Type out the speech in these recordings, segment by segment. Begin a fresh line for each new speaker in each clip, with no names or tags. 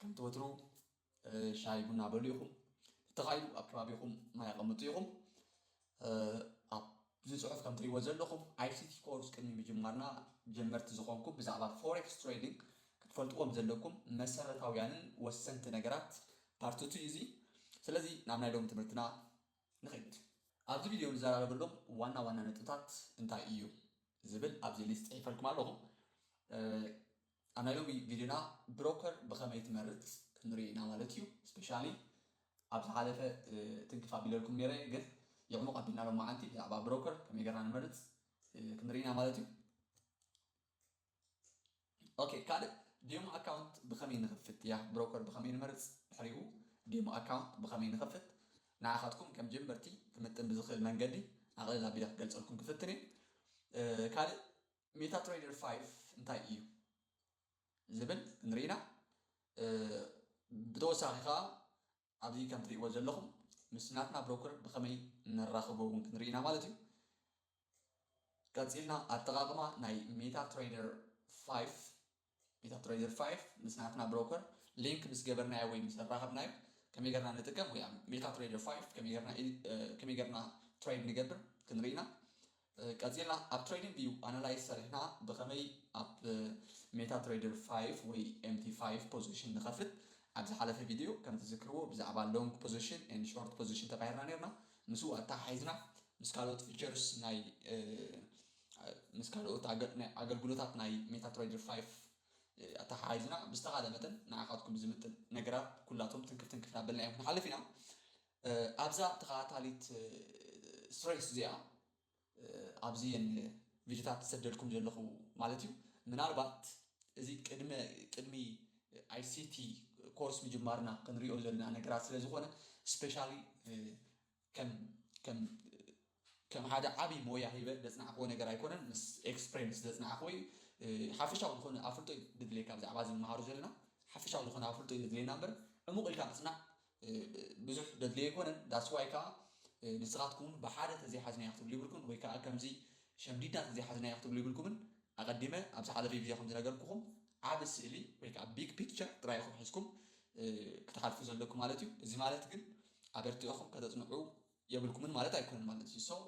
ከምቲ ወትሩ ሻሂ ቡና በሉ ኢኹም ተኻይዱ ኣብ ከባቢኹም ማይ ኣቐምጡ ኢኹም ኣብዚ ፅሑፍ ከም ትሪእዎ ዘለኹም ኣይሲቲ ኮርስ ቅድሚ ምጅማርና ጀመርቲ ዝኾንኩም ብዛዕባ ፎሬክስ ትሬዲንግ ክትፈልጥዎም ዘለኩም መሰረታውያንን ወሰንቲ ነገራት ፓርትቱ እዩ እዚ ስለዚ ናብ ናይ ሎሚ ትምህርትና ንኸይድ ኣብዚ ቪድዮ ንዘራረበሎም ዋና ዋና ነጥብታት እንታይ እዩ ዝብል ኣብዚ ሊስት ፅሒፈልኩም ኣለኹ ኣብ ናይ ሎሚ ቪድዮና ብሮከር ብኸመይ ትመርጽ ክንርኢ ኢና ማለት እዩ ስፔሻሊ ኣብ ዝሓለፈ ትንክፍ ኣቢለልኩም ነይረ ግን የዕሙቕ ኣቢልና ሎማዓንቲ ብዛዕባ ብሮከር ከመይ ገርና ንመርጽ ክንርኢ ኢና ማለት እዩ ኦኬ ካልእ ዴሞ ኣካውንት ብኸመይ ንኽፍት እያ ብሮከር ብኸመይ ንመርጽ ድሕሪኡ ዴሞ ኣካውንት ብኸመይ ንኽፍት ንዓኻትኩም ከም ጀመርቲ ክምጥን ብዝኽእል መንገዲ ኣቕልል ኣቢለ ክገልጸልኩም ክፍትን እየ ካልእ ሜታትሬደር ፋይቭ እንታይ እዩ ዝብል ክንርኢ ኢና። ብተወሳኺ ከዓ ኣብዚ ከም ትሪእዎ ዘለኹም ምስ ናትና ብሮከር ብኸመይ ነራኽቦ እውን ክንርኢ ኢና ማለት እዩ። ቀፂልና ኣጠቃቅማ ናይ ሜታ ትሬደር ፋይቭ Meta Trader five ምስ ናትና ብሮከር ሊንክ ምስ ገበርናዮ ወይ ምስ ኣራኸብናዮ ከመይ ገርና ንጥቀም ወይ ኣብ Meta Trader five ከመይ ገርና ከመይ ገርና ትሬድ ንገብር ክንርኢ ኢና። ቀጺልና ኣብ ትሬዲንግ ቪው ኣናላይዝ ሰሪሕና ብኸመይ ኣብ Meta Trader five ወይ MT five ፖዚሽን ንኸፍት ኣብ ዝሓለፈ ቪድዮ ከም ትዝክርዎ ብዛዕባ ሎንግ ፖዚሽን and ሾርት ፖዚሽን ተባሂርና ኔርና ምስኡ ኣተሓሒዝና ምስ ካልኦት ፊቸርስ ናይ ምስ ካልኦት ኣገልግሎታት ናይ ሜታትሬይደር ፋይፍ ኣተሓሒዝና ብዝተኻለ መጠን ንዓኻትኩም ዝምጥን ነገራት ኩላቶም ትንክፍ ትንክፍ ናበልና እዮም ክንሓልፍ ኢና ኣብዛ ተኸታታሊት ስሬስ እዚኣ ኣብዚ ቪድዮታት ዝሰደልኩም ዘለኹ ማለት እዩ ምናልባት እዚ ቅድመ ቅድሚ ኣይሲቲ ኮርስ ምጅማርና ክንሪኦ ዘለና ነገራት ስለ ዝኾነ ስፔሻሊ ከም ሓደ ዓቢ ሞያ ሂበ ዘጽናዕክዎ ነገር ኣይኮነን ምስ ኤክስፕሬንስ ዘጽናዕክዎ እዩ ሓፈሻዊ ዝኾነ ኣፍልጦ እዩ ድድልየካ ብዛዕባ እዚ ንመሃሮ ዘለና ሓፈሻዊ ዝኾነ ኣፍልጦ እዩ ዘድልየና እምበር ዕሙቕ ኢልካ ምጽናዕ ብዙሕ ደድልዮ ኣይኮነን ዳስዋይ ከዓ ንስኻትኩም ብሓደ ተዘይሓዝናዮ ክትብሉ ይብልኩም ወይ ከዓ ከምዚ ሸምዲድና ተዘይሓዝናዮ ክትብሉ ይብልኩምን ኣቐዲመ ኣብ ዝሓለፈ ቪድዮ ከም ዝነገርኩኹም ዓቢ ስእሊ ወይ ከዓ ቢግ ፒክቸር ጥራይ ኢኹም ሒዝኩም ክትሓልፉ ዘለኩም ማለት እዩ እዚ ማለት ግን ኣበርቲዕኹም ከተጽንዑ የብልኩምን ማለት ኣይኮነን ማለት እዩ so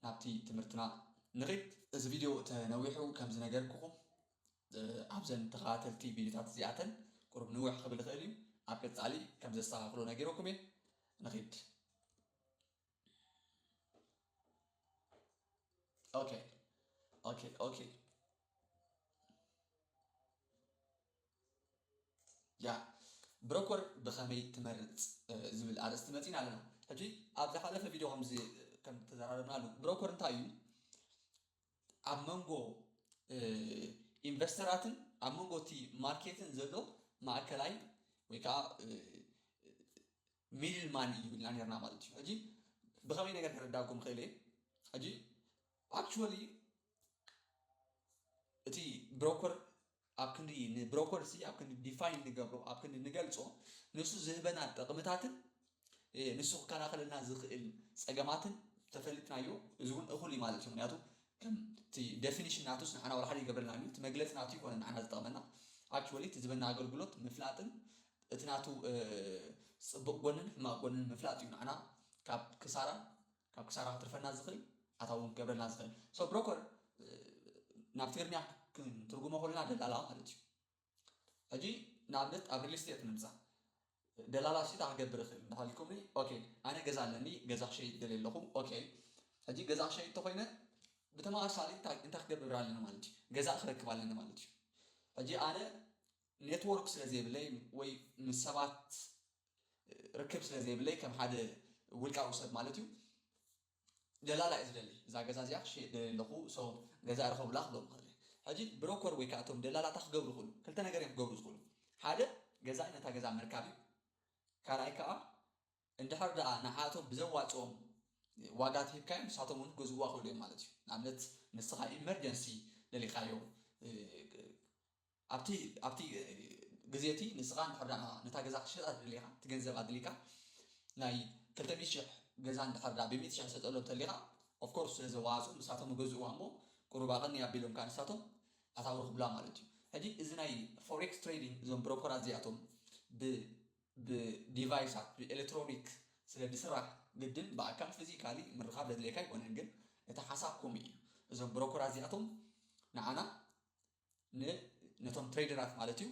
ናብቲ ትምህርትና ንኺድ። እዚ ቪድዮ ተነዊሑ ከም ዝነገርኩኹም ኣብዘን ተኸታተልቲ ቪድዮታት እዚኣተን ቁሩብ ንውሕ ክብል ይኽእል እዩ ኣብ ቀጻሊ ከም ዘስተኻኽሎ ነጊረኩም እየ ንኺድ ኦኬ ኦኬ ኦኬ ያህ ብረኮር ብኸመይ ትመርጽ ዝብል ኣርእስቲ መጺና ኣለና። ሕጂ ኣብ ዝሓለፈ ቪድዮ ከምዚ ከም ተዘራረብናሉ ብሮኮር እንታይ እዩ ኣብ መንጎ ኢንቨስተራትን ኣብ መንጎ እቲ ማርኬትን ዘሎ ማእከላይ ወይ ከዓ ሚድል ማን እዩ ኢልና ነርና ማለት እዩ። ሕጂ ብኸመይ ነገር ክረዳኩም ክእል እየ ሕጂ ኣክቹዋሊ እቲ ብሮኮር ኣብ ክንዲ ንብሮኮር ሲ ኣብ ክንዲ ዲፋይን ንገብሮ ኣብ ክንዲ ንገልጾ ንሱ ዝህበና ጥቕምታትን ንሱ ክከላኸለልና ዝኽእል ጸገማትን ተፈሊጥናዮ እዚ እውን እኹል እዩ ማለት እዩ ምክንያቱ ከምቲ ደፊኒሽን ናቱስ ንዓና ወላ ሓደ ይገብረልና እዩ እቲ መግለፂ ናቱ ይኮነ ንዓና ዝጠቕመና ኣክቹዋሊ እቲ ዝበና ኣገልግሎት ምፍላጥን እቲ ናቱ ፅቡቕ ጎንን ሕማቕ ጎንን ምፍላጥ እዩ ንዓና ካብ ክሳራን ካብ ክሳራ ክትርፈና ዝክእል ኣታዊ ውን ክገብረልና ዝክእል so ብሮኮር ናብ ትግርኛ ክንትርጉሞ ከለና ደላላ ማለት እዩ ሕጂ ንኣብነት ኣብ ሪል ስቴት ንምጻእ ደላላ ሽታ ክገብር እኽእል እንዳሃልኩምኒ ኦኬ ኣነ ገዛ ኣለኒ ገዛ ክሸይጥ ደልየ ኣለኹ ኦኬ ሕጂ ገዛ ክሸይጥ ተኾይነ ብተመሳሳሊ እንታይ ክገብር ኣለኒ ማለት እዩ ገዛ ክረክብ ኣለኒ ማለት እዩ ሕጂ ኣነ ኔትወርክ ስለ ዘይብለይ ወይ ምስ ሰባት ርክብ ስለ ዘይብለይ ከም ሓደ ውልቃዊ ሰብ ማለት እዩ ደላላ እየ ዝደሊ እዛ ገዛ እዚኣ ክሸየጥ ደልየ ኣለኹ so ገዛ ርኸቡላ ክብሎም ይኽእል እየ ሕጂ ብሮኮር ወይ ከኣ እቶም ደላላ እንታይ ክገብሩ ይኽእሉ ክልተ ነገር እዮም ክገብሩ ዝኽእሉ ሓደ ገዛኢ ነታ ገዛ ምርካብ እዩ ካልኣይ ከኣ እንድሕር ደኣ ንዓቶም ብዘዋጽኦም ዋጋ ትሂብካዮም ንሳቶም እውን ክገዝእዋ ይኽእሉ እዮም ማለት እዩ ንኣብነት ንስኻ ኢመርጀንሲ ደሊኻዮ ኣብቲ ኣብቲ ግዜ እቲ ንስኻ እንድሕር ደኣ ነታ ገዛ ክትሸጣ ተደሊኻ እቲ ገንዘብ ኣድሊካ ናይ ክልተ ሚእቲ ሽሕ ገዛ እንድሕር ደኣ ብሚእቲ ሽሕ ትሰጠሎም እንተሊኻ of course ስለ ዘዋሃጹ ንሳቶም ይገዝእዋ እሞ ቁሩብ ኣቐንይ ኣቢሎምካ ንሳቶም ኣታዊ ረኽቡላ ማለት እዩ ሕጂ እዚ ናይ ፎሬክስ ትሬዲንግ እዞም ብሮኮራት እዚኣቶም ብ ብ ዲቫይሳት ብ ኤለትሮኒክ ስለ ድስራሕ ግድን ብኣካል ፊዚካሊ ምርኻብ ዘድልየካ ኣይኮነን ግን እቲ ሓሳብኩም እዩ እዞም ብሮኮራት እዚኣቶም ንዓና ን ነቶም ትሬደራት ማለት እዩ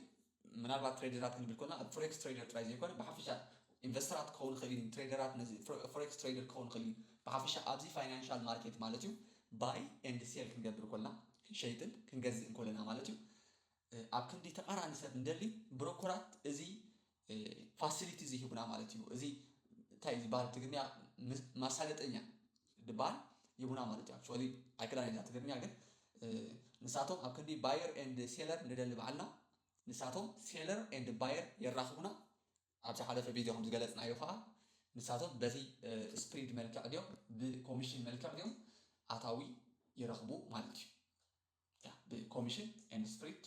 ምናልባት ትሬደራት ክንብል ኮልና ኣብ ፎሬክስ ትሬደር ጥራይ ዘይኮነ ብሓፈሻ ኢንቨስተራት ክኸውን ይኽእል እዩ ትሬደራት ነዚ ፎሬክስ ትሬደር ክኸውን ይኽእል እዩ ብሓፈሻ ኣብዚ ፋይናንሻል ማርኬት ማለት እዩ ባይ ኤንድ ሴል ክንገብር ኮልና ክንሸይጥን ክንገዝእን ኮለና ማለት እዩ ኣብ ክንዲ ተቃራኒ ሰብ እንደሊ ብሮኮራት እዚ ፋሲሊቲ ዘይህቡና ማለት እዩ እዚ እንታይ ዝበሃል ትግርኛ ማሳለጠኛ ድበሃል ይቡና ማለት እዩ ኣክቹዋሊ ኣይክዳን እዛ ትግርኛ ግን ንሳቶም ኣብ ክንዲ ባየር ኤንድ ሴለር ንደሊ በዓልና ንሳቶም ሴለር ኤንድ ባየር የራኽቡና ኣብ ዝሓለፈ ቪድዮ ከም ዝገለፅናዮ ከዓ ንሳቶም በዚ ስፕሪድ መልክዕ ድዮም ብኮሚሽን መልክዕ ድዮም ኣታዊ ይረኽቡ ማለት እዩ ብኮሚሽን ኤንድ ስፕሪድ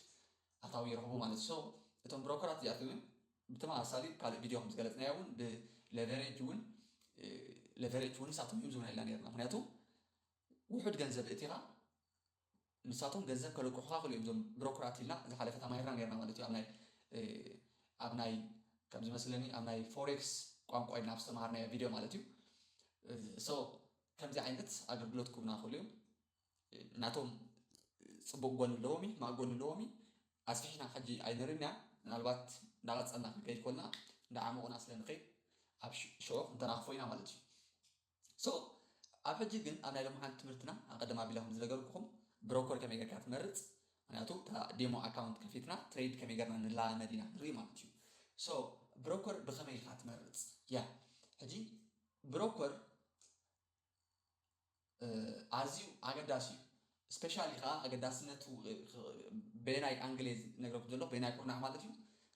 ኣታዊ ይረኽቡ ማለት እዩ። So እቶም ብሮከራት እዚኣቶምን ብተመሳሳሊ ካልእ ቪድዮ ከም ዝገለጽናዮ እውን ብለቨሬጅ እውን ለቨሬጅ እውን ንሳቶም እዮም ዝብና ኢልና ነርና። ምክንያቱ ውሑድ ገንዘብ እቲኻ ንሳቶም ገንዘብ ከለቅሑኻ ክሉ እዮም እዞም ብሮከራት ኢልና ዝሓለፈ ተማሂርና ነርና ማለት እዩ ኣብ ናይ ኣብ ናይ ከም ዝመስለኒ ኣብ ናይ ፎሬክስ ቋንቋ ኢልና ኣብ ዝተምሃርናዮ ቪድዮ ማለት እዩ ሶ ከምዚ ዓይነት ኣገልግሎት ክቡና ክእሉ እዮም ናቶም ጽቡቅ ጎኒ ኣለዎም እዩ ሕማቅ ጎኒ ኣለዎም እዩ ኣስፊሕና ሕጂ ኣይንርምያ ምናልባት እንዳቀጸልና ክንከይድ ኮልና እንዳዓሞቅና ስለ ንከይድ ኣብ ሽዑ ክንተናክፎ ኢና ማለት እዩ so ኣብ ሕጂ ግን ኣብ ናይ ሎምዓንቲ ትምህርትና ኣቀድም ኣቢለ ከም ዝነገርኩኹም ብሮኮር ከመይ ጌርካ ትመርጽ ምክንያቱ እታ ዴሞ ኣካውንት ከፊትና ትሬድ ከመይ ጌርና ንለማመድ ኢና ክንርኢ ማለት እዩ so ብሮኮር ብከመይ ኢካ ትመርጽ ያ ሕጂ ብሮኮር ኣዝዩ ኣገዳሲ እዩ ስፔሻሊ ከኣ ኣገዳስነቱ በየናይ ኣንግል እየ ዝነግረኩም ዘለኹ በየናይ ኩርናዕ ማለት እዩ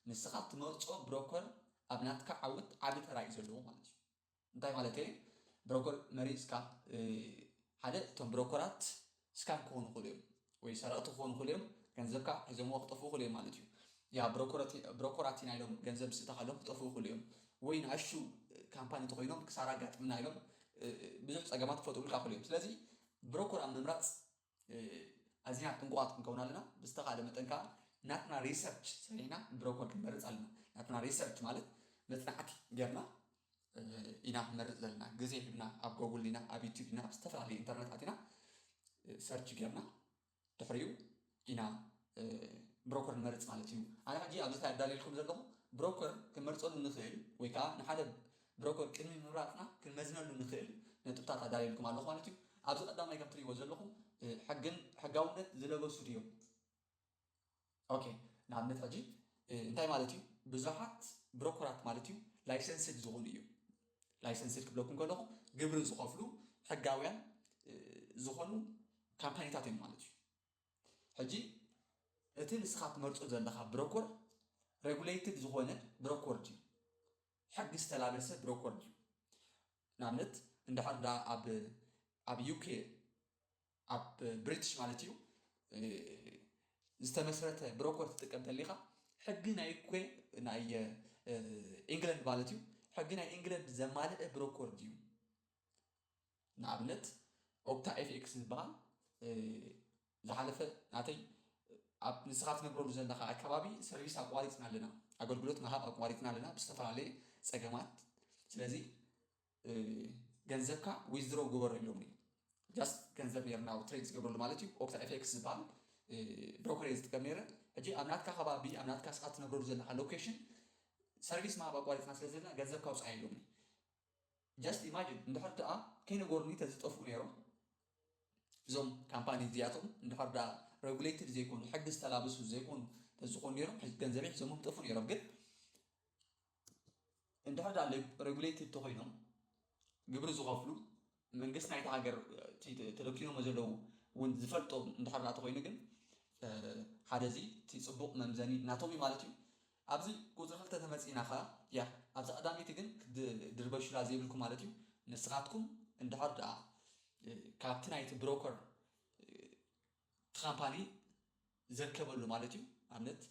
ንስኻ ትመርጾ ብሮከር ኣብ ናትካ ዓወት ዓቢ ተራ እዩ ዘለዎ ማለት እዩ እንታይ ማለት እየ ብሮከር መሪጽካ ሓደ እቶም ብሮከራት ስካም ክኮኑ ይክእሉ እዮም ወይ ሰረቅቲ ክኮኑ ይክእሉ እዮም ገንዘብካ ሒዞምዎ ክጠፍኡ ይክእሉ እዮም ማለት እዩ ያ ብሮኮራቲና ኢሎም ገንዘብ ምስ እተካ ኢሎም ክጠፍኡ ይክእሉ እዮም ወይ ንኣሹ ካምፓኒ ተኮይኖም ክሳራ ኣጋጥምና ኢሎም ብዙሕ ጸገማት ክፈጥሩልካ ይክእሉ እዮም ስለዚ ብሮኮር ኣብ ምምራጽ ኣዚና ጥንቁቃት ክንከውን ኣለና ብዝተካለ መጠን ከኣ ናትና ሪሰርች ሰሪሕና ብሮኮር ክንመርጽ ኣለና ናትና ሪሰርች ማለት መጽናዕቲ ገርና ኢና ክንመርጽ ዘለና ግዜ ሂብና ኣብ ጎጉል ዲና ኣብ ዩቱብ ዲና ኣብ ዝተፈላለየ ኢንተርነት ኣቲና ሰርች ጌርና ድሕሪኡ ኢና ብሮከር ንመርጽ ማለት እዩ ኣነ ሕጂ ኣብዚ ታይ ኣዳልየልኩም ዘለኹ ብሮከር ክንመርጸሉ ንኽእል ወይ ከዓ ንሓደ ብሮከር ቅድሚ ምምራጽና ክንመዝነሉ ንኽእል ነጥብታት ኣዳልየልኩም ኣለኹ ማለት እዩ ኣብዚ ቀዳማይ ከም ትሪእዎ ዘለኹም ሕግን ሕጋውነት ዝለበሱ ድዮም ኦኬ ንኣብነት ሕጂ እንታይ ማለት እዩ ብዙሓት ብሮኮራት ማለት እዩ ላይሰንስድ ዝኾኑ እዩ ላይሰንስድ ክብለኩም ከለኹ ግብሪ ዝኸፍሉ ሕጋውያን ዝኾኑ ካምፓኒታት እዮም ማለት እዩ ሕጂ እቲ ንስኻ ትመርፆ ዘለኻ ብሮኮር ሬጉሌትድ ዝኾነ ብሮኮር ድዩ ሕጊ ዝተላበሰ ብሮኮር ድዩ ንኣብነት እንድሕር ዳ ኣብ ኣብ ዩኬ ኣብ ብሪትሽ ማለት እዩ ዝተመስረተ ብሮኮር ትጥቀም ተሊኻ ሕጊ ናይ ኮ ናይ ኢንግለንድ ማለት እዩ ሕጊ ናይ ኢንግለንድ ዘማልአ ብሮኮር ድዩ ንኣብነት ኦፕታ ኤፍኤክስ ዝበሃል ዝሓለፈ ናተይ ኣብ ንስኻ ትነብረሉ ዘለኻ ኣከባቢ ሰርቪስ ኣቋሪፅና ኣለና ኣገልግሎት ምሃብ ኣቋሪፅና ኣለና ብዝተፈላለየ ፀገማት ስለዚ ገንዘብካ ዊዝድሮው ግበሮ ኢሎምኒ ጃስት ገንዘብ ነይሩ ናብ ትሬድ ዝገብረሉ ማለት እዩ ኦክታ ኤፌክስ ዝበሃል ብሮከር እየ ዝጥቀም ነይረ ሕጂ ኣብ ናትካ ከባቢ ኣብ ናትካ ስኻ ትነብረሉ ዘለካ ሎኬሽን ሰርቪስ ምሃብ ኣቋሪፅና ስለ ዘለና ገንዘብ ካውፅኣ ኢሎምኒ ጃስት ኢማጅን እንድሕር ደኣ ከይነገሩኒ ተዝጠፍኡ ነይሮም እዞም ካምፓኒ እዚኣቶም እንድሕር ደኣ ሬጉሌትድ ዘይኮኑ ሕጊ ዝተላበሱ ዘይኮኑ ተዝኾኑ ነይሮም ገንዘበይ ሒዞሞም ጠፉ ነይሮም ግን እንድሕር ድኣ ሬጉሌትድ ተኾይኖም ግብሪ ዝኸፍሉ መንግስቲ ናይታ ሃገር እቲ ተደኲኖሞ ዘለዉ እውን ዝፈልጦ እንድሕር ድኣ ተኾይኑ ግን ሓደ እዚ እቲ ፅቡቕ መምዘኒ ናቶም እዩ ማለት እዩ ኣብዚ ቁፅሪ ክልተ ተመፂእና ከዓ ያ ኣብዛ ቀዳመይቲ ግን ክትድርበሹላ ዘይብልኩም ማለት እዩ ንስኻትኩም እንድሕር ድኣ ካብቲ ናይቲ ብሮከር እቲ ካምፓኒ ዘርከበሉ ማለት እዩ ኣብነት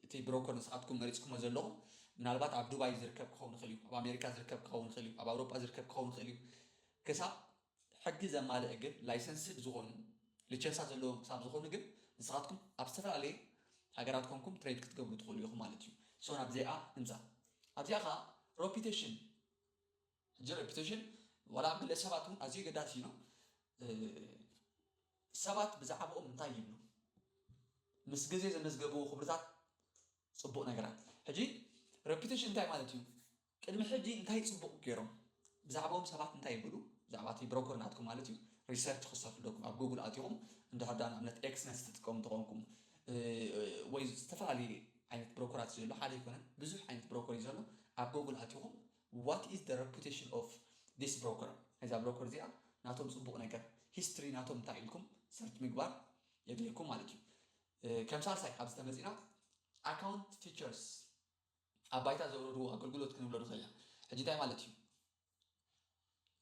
እቲ ብሮኮር ንስኻትኩም መሪጽኩሞ ዘለኹም ምናልባት ኣብ ዱባይ ዝርከብ ክኸውን ይኽእል እዩ ኣብ ኣሜሪካ ዝርከብ ክኸውን ይኽእል እዩ ኣብ ኣውሮጳ ዝርከብ ክኸውን ይኽእል እዩ ክሳብ ሕጊ ዘማልእ ግን ላይሰንስድ ዝኾኑ ልቸንሳ ዘለዎም ክሳብ ዝኾኑ ግን ንስኻትኩም ኣብ ዝተፈላለየ ሃገራት ኮንኩም ትሬድ ክትገብሩ ትኽእሉ ኢኹም ማለት እዩ ሶ ናብዚኣ ንምጻእ ኣብዚኣ ከዓ ሮፒቴሽን ሕጂ reputation ዋላ ኣብ ግለ ሰባት ውን ኣዝዩ ኣገዳሲ እዩ ነው ሰባት ብዛዕብኦም እንታይ ይብሉ ምስ ግዜ ዘመዝገብዎ ክብርታት ጽቡቅ ነገራት ሕጂ reputation እንታይ ማለት እዩ ቅድሚ ሕጂ እንታይ ጽቡቅ ገይሮም ብዛዕባኦም ሰባት እንታይ ይብሉ ብዛዕባ እቲ ብሮኮር ናትኩም ማለት እዩ ሪሰርች ክሰርሑ ኣለኩም ኣብ ጉግል ኣትኹም እንድሕር ዳ ንኣብነት ኤክስነስ ትጥቀሙ ተኾንኩም ወይ ዝተፈላለዩ ዓይነት ብሮኮራት ዘሎ ሓደ ኣይኮነን ብዙሕ ዓይነት ብሮኮር እዩ ዘሎ ኣብ ጉግል ኣትኹም ዋት ኢዝ ዘ ረፑቴሽን ኦፍ ዚስ ብሮከር እዛ ብሮከር እዚኣ ናቶም ጽቡቕ ነገር ሂስትሪ ናቶም እንታይ ኢልኩም ሰርች ምግባር የድልየኩም ማለት እዩ ከም ሳልሳይ ኣብዚ ተመጺና ኣካውንት ፊቸርስ ኣብ ባይታ ዘውረድዎ ኣገልግሎት ክንብሎ ንኽእል ኢና ሕጂ እንታይ ማለት እዩ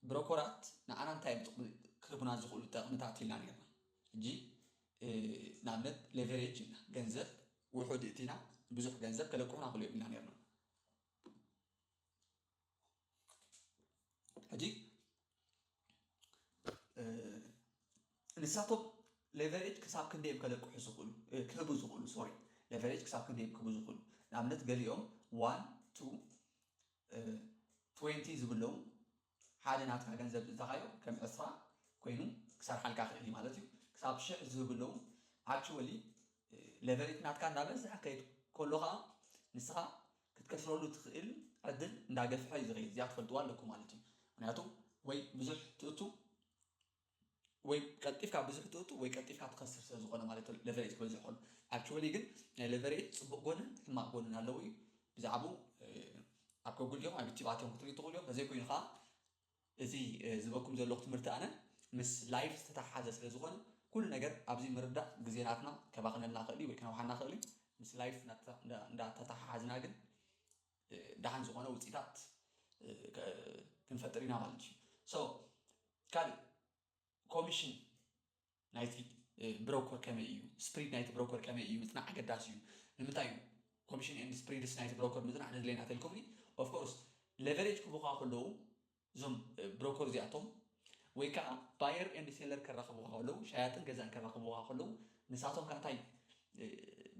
ብሮኮራት ንዓና እንታይ እዮም ጥቕሚ ክህቡና ዝኽእሉ ጠቕምታት ኢልና ነርና ሕጂ ንኣብነት ሌቨሬጅ ኢልና ገንዘብ ውሑድ እቲና ብዙሕ ገንዘብ ከለቅሑና ክእሉ እዮም ኢልና ነርና ሕጂ ንሳቶም ሌቨሬጅ ክሳብ ክንደይ እዮም ከለቅሑ ዝኽእሉ ክህቡ ዝኽእሉ ሶሪ ሌቨሬጅ ክሳብ ክንደይ እዮም ክህቡ ዝኽእሉ ንኣብነት ገሊኦም ዋን ቱ ትዌንቲ ዝብለዉ ሓደ ናትካ ገንዘብ ዝእታኻዮ ከም ዕስራ ኮይኑ ክሰርሓልካ ክእል እዩ ማለት እዩ ክሳብ ሽሕ ዝህቡ ኣለዉ ኣክችወሊ ለቨሬት ናትካ እንዳበዝሐ ከይድ ኮሎ ከኣ ንስኻ ክትከስረሉ ትክእል ዕድል እንዳገፍሐ እዩ ዝኸይድ እዚኣ ትፈልጥዋ ኣለኩም ማለት እዩ ምክንያቱ ወይ ብዙሕ ትእቱ ወይ ቀልጢፍካ ብዙሕ ትእቱ ወይ ቀልጢፍካ ትኸስር ስለ ዝኾነ ማለት እዩ ለቨሬጅ ክበዝሕ ከሎ ኣክቹዋሊ ግን ናይ ለቨሬጅ ፅቡቕ ጎንን ሕማቕ ጎንን ኣለዎ እዩ ብዛዕባኡ ኣብ ከጉል እዮም ኣብ ዩቲብ ኣትዮም ክትሪኡ ትኽእሉ እዮም ተዘይኮይኑ ከዓ እዚ ዝበኩም ዘለኹ ትምህርቲ ኣነ ምስ ላይፍ ዝተተሓሓዘ ስለ ዝኾነ ኩሉ ነገር ኣብዚ ምርዳእ ግዜናትና ከባኽነልና ክእል ወይ ከነውሓና ክእል ምስ ላይፍ እንዳተተሓሓዝና ግን ደሓን ዝኾነ ውፅኢታት ክንፈጥር ኢና ማለት እዩ ሶ ካልእ ኮሚሽን ናይቲ ብሮኮር ከመይ እዩ ስፕሪድ ናይቲ ብሮኮር ከመይ እዩ ምፅናዕ ኣገዳሲ እዩ ንምንታይ እዩ ኮሚሽን ኤንድ ስፕሪድስ ናይቲ ብሮኮር ምፅናዕ ነድለየና ተልኩምኒ ኦፍኮርስ ሌቨሬጅ ክቡካ ከለዉ እዞም ብሮኮር እዚኣቶም ወይ ከኣ ባየር ኤንድ ሴለር ከራኽቡኻ ከለዉ፣ ሸያጥን ገዛእን ከራኽቡኻ ከለዉ፣ ንሳቶም ከኣ እንታይ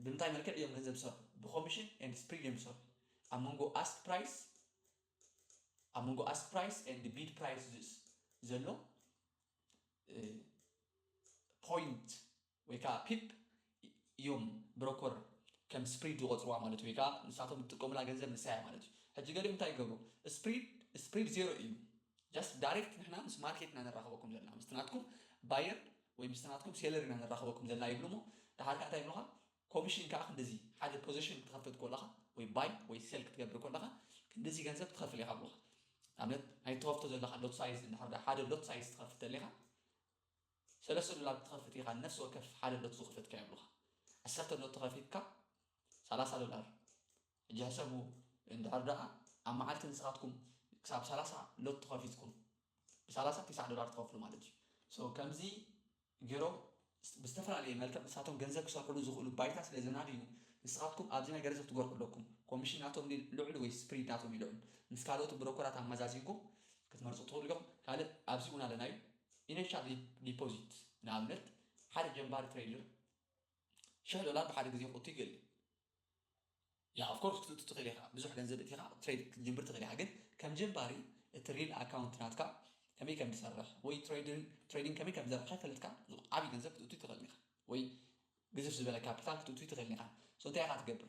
ብምንታይ መልክዕ እዮም ገንዘብ ዝሰርሑ? ብኮሚሽን ኤንድ ስፕሪድ እዮም ዝሰርሑ። ኣብ መንጎ ኣስክ ፕራይስ ኣብ መንጎ ኣስክ ፕራይስ ኤንድ ቢድ ፕራይስ ዘሎ ፖይንት ወይ ከኣ ፒፕ ኢዮም ብሮኮር ከም ስፕሪድ ዝቆጽርዋ ማለት ኢዩ ወይ ከኣ ንሳቶም ዝጥቀሙላ ገንዘብ ንሳ ኢያ ማለት ኢዩ ሕጂ ገሊኦም እንታይ ይገብሩ ስፕሪድ ስፕሪድ ዜሮ ኢዩ ጃስት ዳሬክት ንሕና ምስ ማርኬት ኢና ነራኽበኩም ዘለና ምስቲ ናትኩም ባየር ወይ ምስቲ ናትኩም ሴለር ኢና ነራኽበኩም ዘለና ይብሉ እሞ ደሓር ከኣ እንታይ ይብሉኻ ኮሚሽን ከኣ ክንድዚ ሓደ ፖዘሽን ክትኸፍት ኮለኻ ወይ ባይ ወይ ሴል ክትገብር ኮለኻ ክንድዚ ገንዘብ ትኸፍል ኢኻ ይብሉኻ ንኣብነት ናይ ትኸፍቶ ዘለኻ ሎት ሳይዝ እንድሕር ሓደ ሎት ሳይዝ ትኸፍት ተሊኻ ሰለስተ ዶላር ክትኸፍት ኢኻ ንነፍሲ ወከፍ ሓደ ሎት ዝኽፈት ከ ይብሉኻ ዓሰርተ ሎቲ ከፊትካ ሰላሳ ዶላር ሕጂ ሕሰቡ እንድሕር ደኣ ኣብ መዓልቲ ንስኻትኩም ክሳብ ሰላሳ ሎቲ ከፊትኩም ብሰላሳ ቲስዓ ዶላር ትኸፍሉ ማለት እዩ ሶ ከምዚ ጌሮም ብዝተፈላለየ መልክዕ ንሳቶም ገንዘብ ክሰርሕሉ ዝኽእሉ ባይታ ስለ ዘናድዩ ንስኻትኩም ኣብዚ ነገር እዚ ክትገርሑ ኣለኩም ኮሚሽን ናቶም ድዩ ልዑል ወይስ ስፕሪድ ናቶም እዩ ልዑል ምስ ካልኦት ብሮኮራት ኣመዛዚንኩም ክትመርጹ ትኽእሉ ኢኹም ካልእ ኣብዚ እውን ኣለና እዩ ኢነሻል ዲፖዚት፣ ንኣብነት ሓደ ጀማሪ ትሬደር ሽሕ ዶላር ብሓደ ግዜ ክእቱ ይክእል እያ of course ክትእቱ ትክእል ኢካ ብዙሕ ገንዘብ እቲካ ትሬድ ክትጅምር ትክእል ኢካ ግን ከም ጀማሪ እቲ ሪል ኣካውንት ናትካ ከመይ ከም ዝሰርሕ ወይ ትሬዲንግ ከመይ ከም ዝሰርሕ ከይፈለጥካ ዓቢ ገንዘብ ክትእቱ ኣይትክእልን ኢካ ወይ ግዝፍ ዝበለ ካፒታል ክትእቱ ኣይትክእልን ኢካ so እንታይ ኢካ ትገብር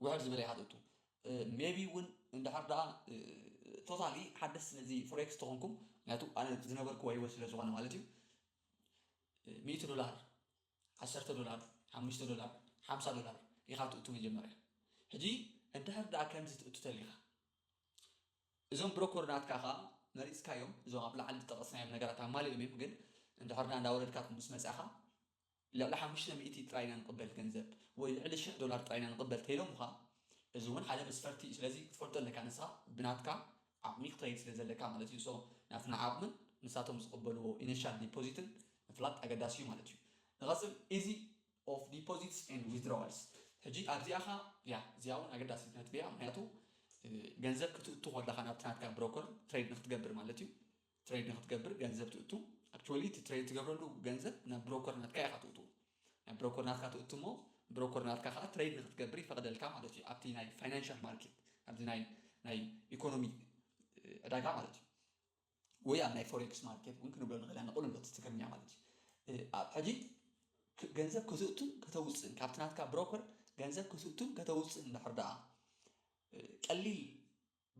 ውሕድ ዝበለ ይሓተቱ ሜቢ ውን እንድሕር ደኣ ቶታሊ ሓደስቲ ነዚ ፎሬክስ ተኾንኩም ምክንያቱ ኣነ ዝነበርክዎ ሂወት ስለ ዝኾነ ማለት እዩ ሚእቲ ዶላር ዓሰርተ ዶላር ሓሙሽተ ዶላር ሓምሳ ዶላር ኢኻ ትእቱ መጀመርያ ሕጂ እንድሕር ደኣ ከምዚ ትእቱ ተሊኻ እዞም ብሮኮር ናትካ ከኣ መሪጽካዮም እዞም ኣብ ላዕሊ ዝጠቐስናዮም ነገራት ኣማሊኦም እዮም ግን እንድሕር ደኣ እንዳወረድካ ምስ መጻኻ ልዕሊ ሓሙሽተ ሚእቲ ጥራይ ኢና ንቕበል ገንዘብ ወይ ልዕሊ ሽሕ ዶላር ጥራይ ኢና ንቕበል ተይሎምኻ እዚ ውን ሓደ መስፈርቲ እዩ ስለዚ ክትፈልጦ ኣለካ ንስኻ ብናትካ ዓቕሚ ክትኸይድ ስለ ዘለካ ማለት እዩ so ናትና ዓቕምን ንሳቶም ዝቕበልዎ initial deposit ን ምፍላጥ ኣገዳሲ እዩ ማለት እዩ ንቐጽል easy of deposits and withdrawals ሕጂ ኣብዚኣ ከኣ እያ እዚኣ ውን ኣገዳሲት ነጥቢ እያ ምኽንያቱ ገንዘብ ክትእቱ ከለኻ ናብቲ ናትካ ብሮከር ትሬድ ንኽትገብር ማለት እዩ ትሬድ ንክትገብር ገንዘብ ትእቱ ኣክቹዋሊ እቲ ትሬድ ትገብረሉ ገንዘብ ናብ ብሮከር ናትካ ኢኻ ትእቱ ናብ ብሮከር ናትካ ትእቱ እሞ ብሮከር ናትካ ከዓ ትሬድ ንክትገብር ይፈቅደልካ ማለት እዩ ኣብቲ ናይ ፋይናንሻል ማርኬት ኣብዚ ናይ ናይ ኢኮኖሚ ዕዳጋ ማለት እዩ ወይ ኣብ ናይ ፎሬክስ ማርኬት እውን ክንብሎ ንኽእል ኢና ንቕልሎ እቲ ትግርኛ ማለት እዩ ኣብ ሕጂ ገንዘብ ከተእቱን ከተውፅእን ካብቲ ናትካ ብሮከር ገንዘብ ከተእቱን ከተውፅእን እንድሕር ደኣ ቀሊል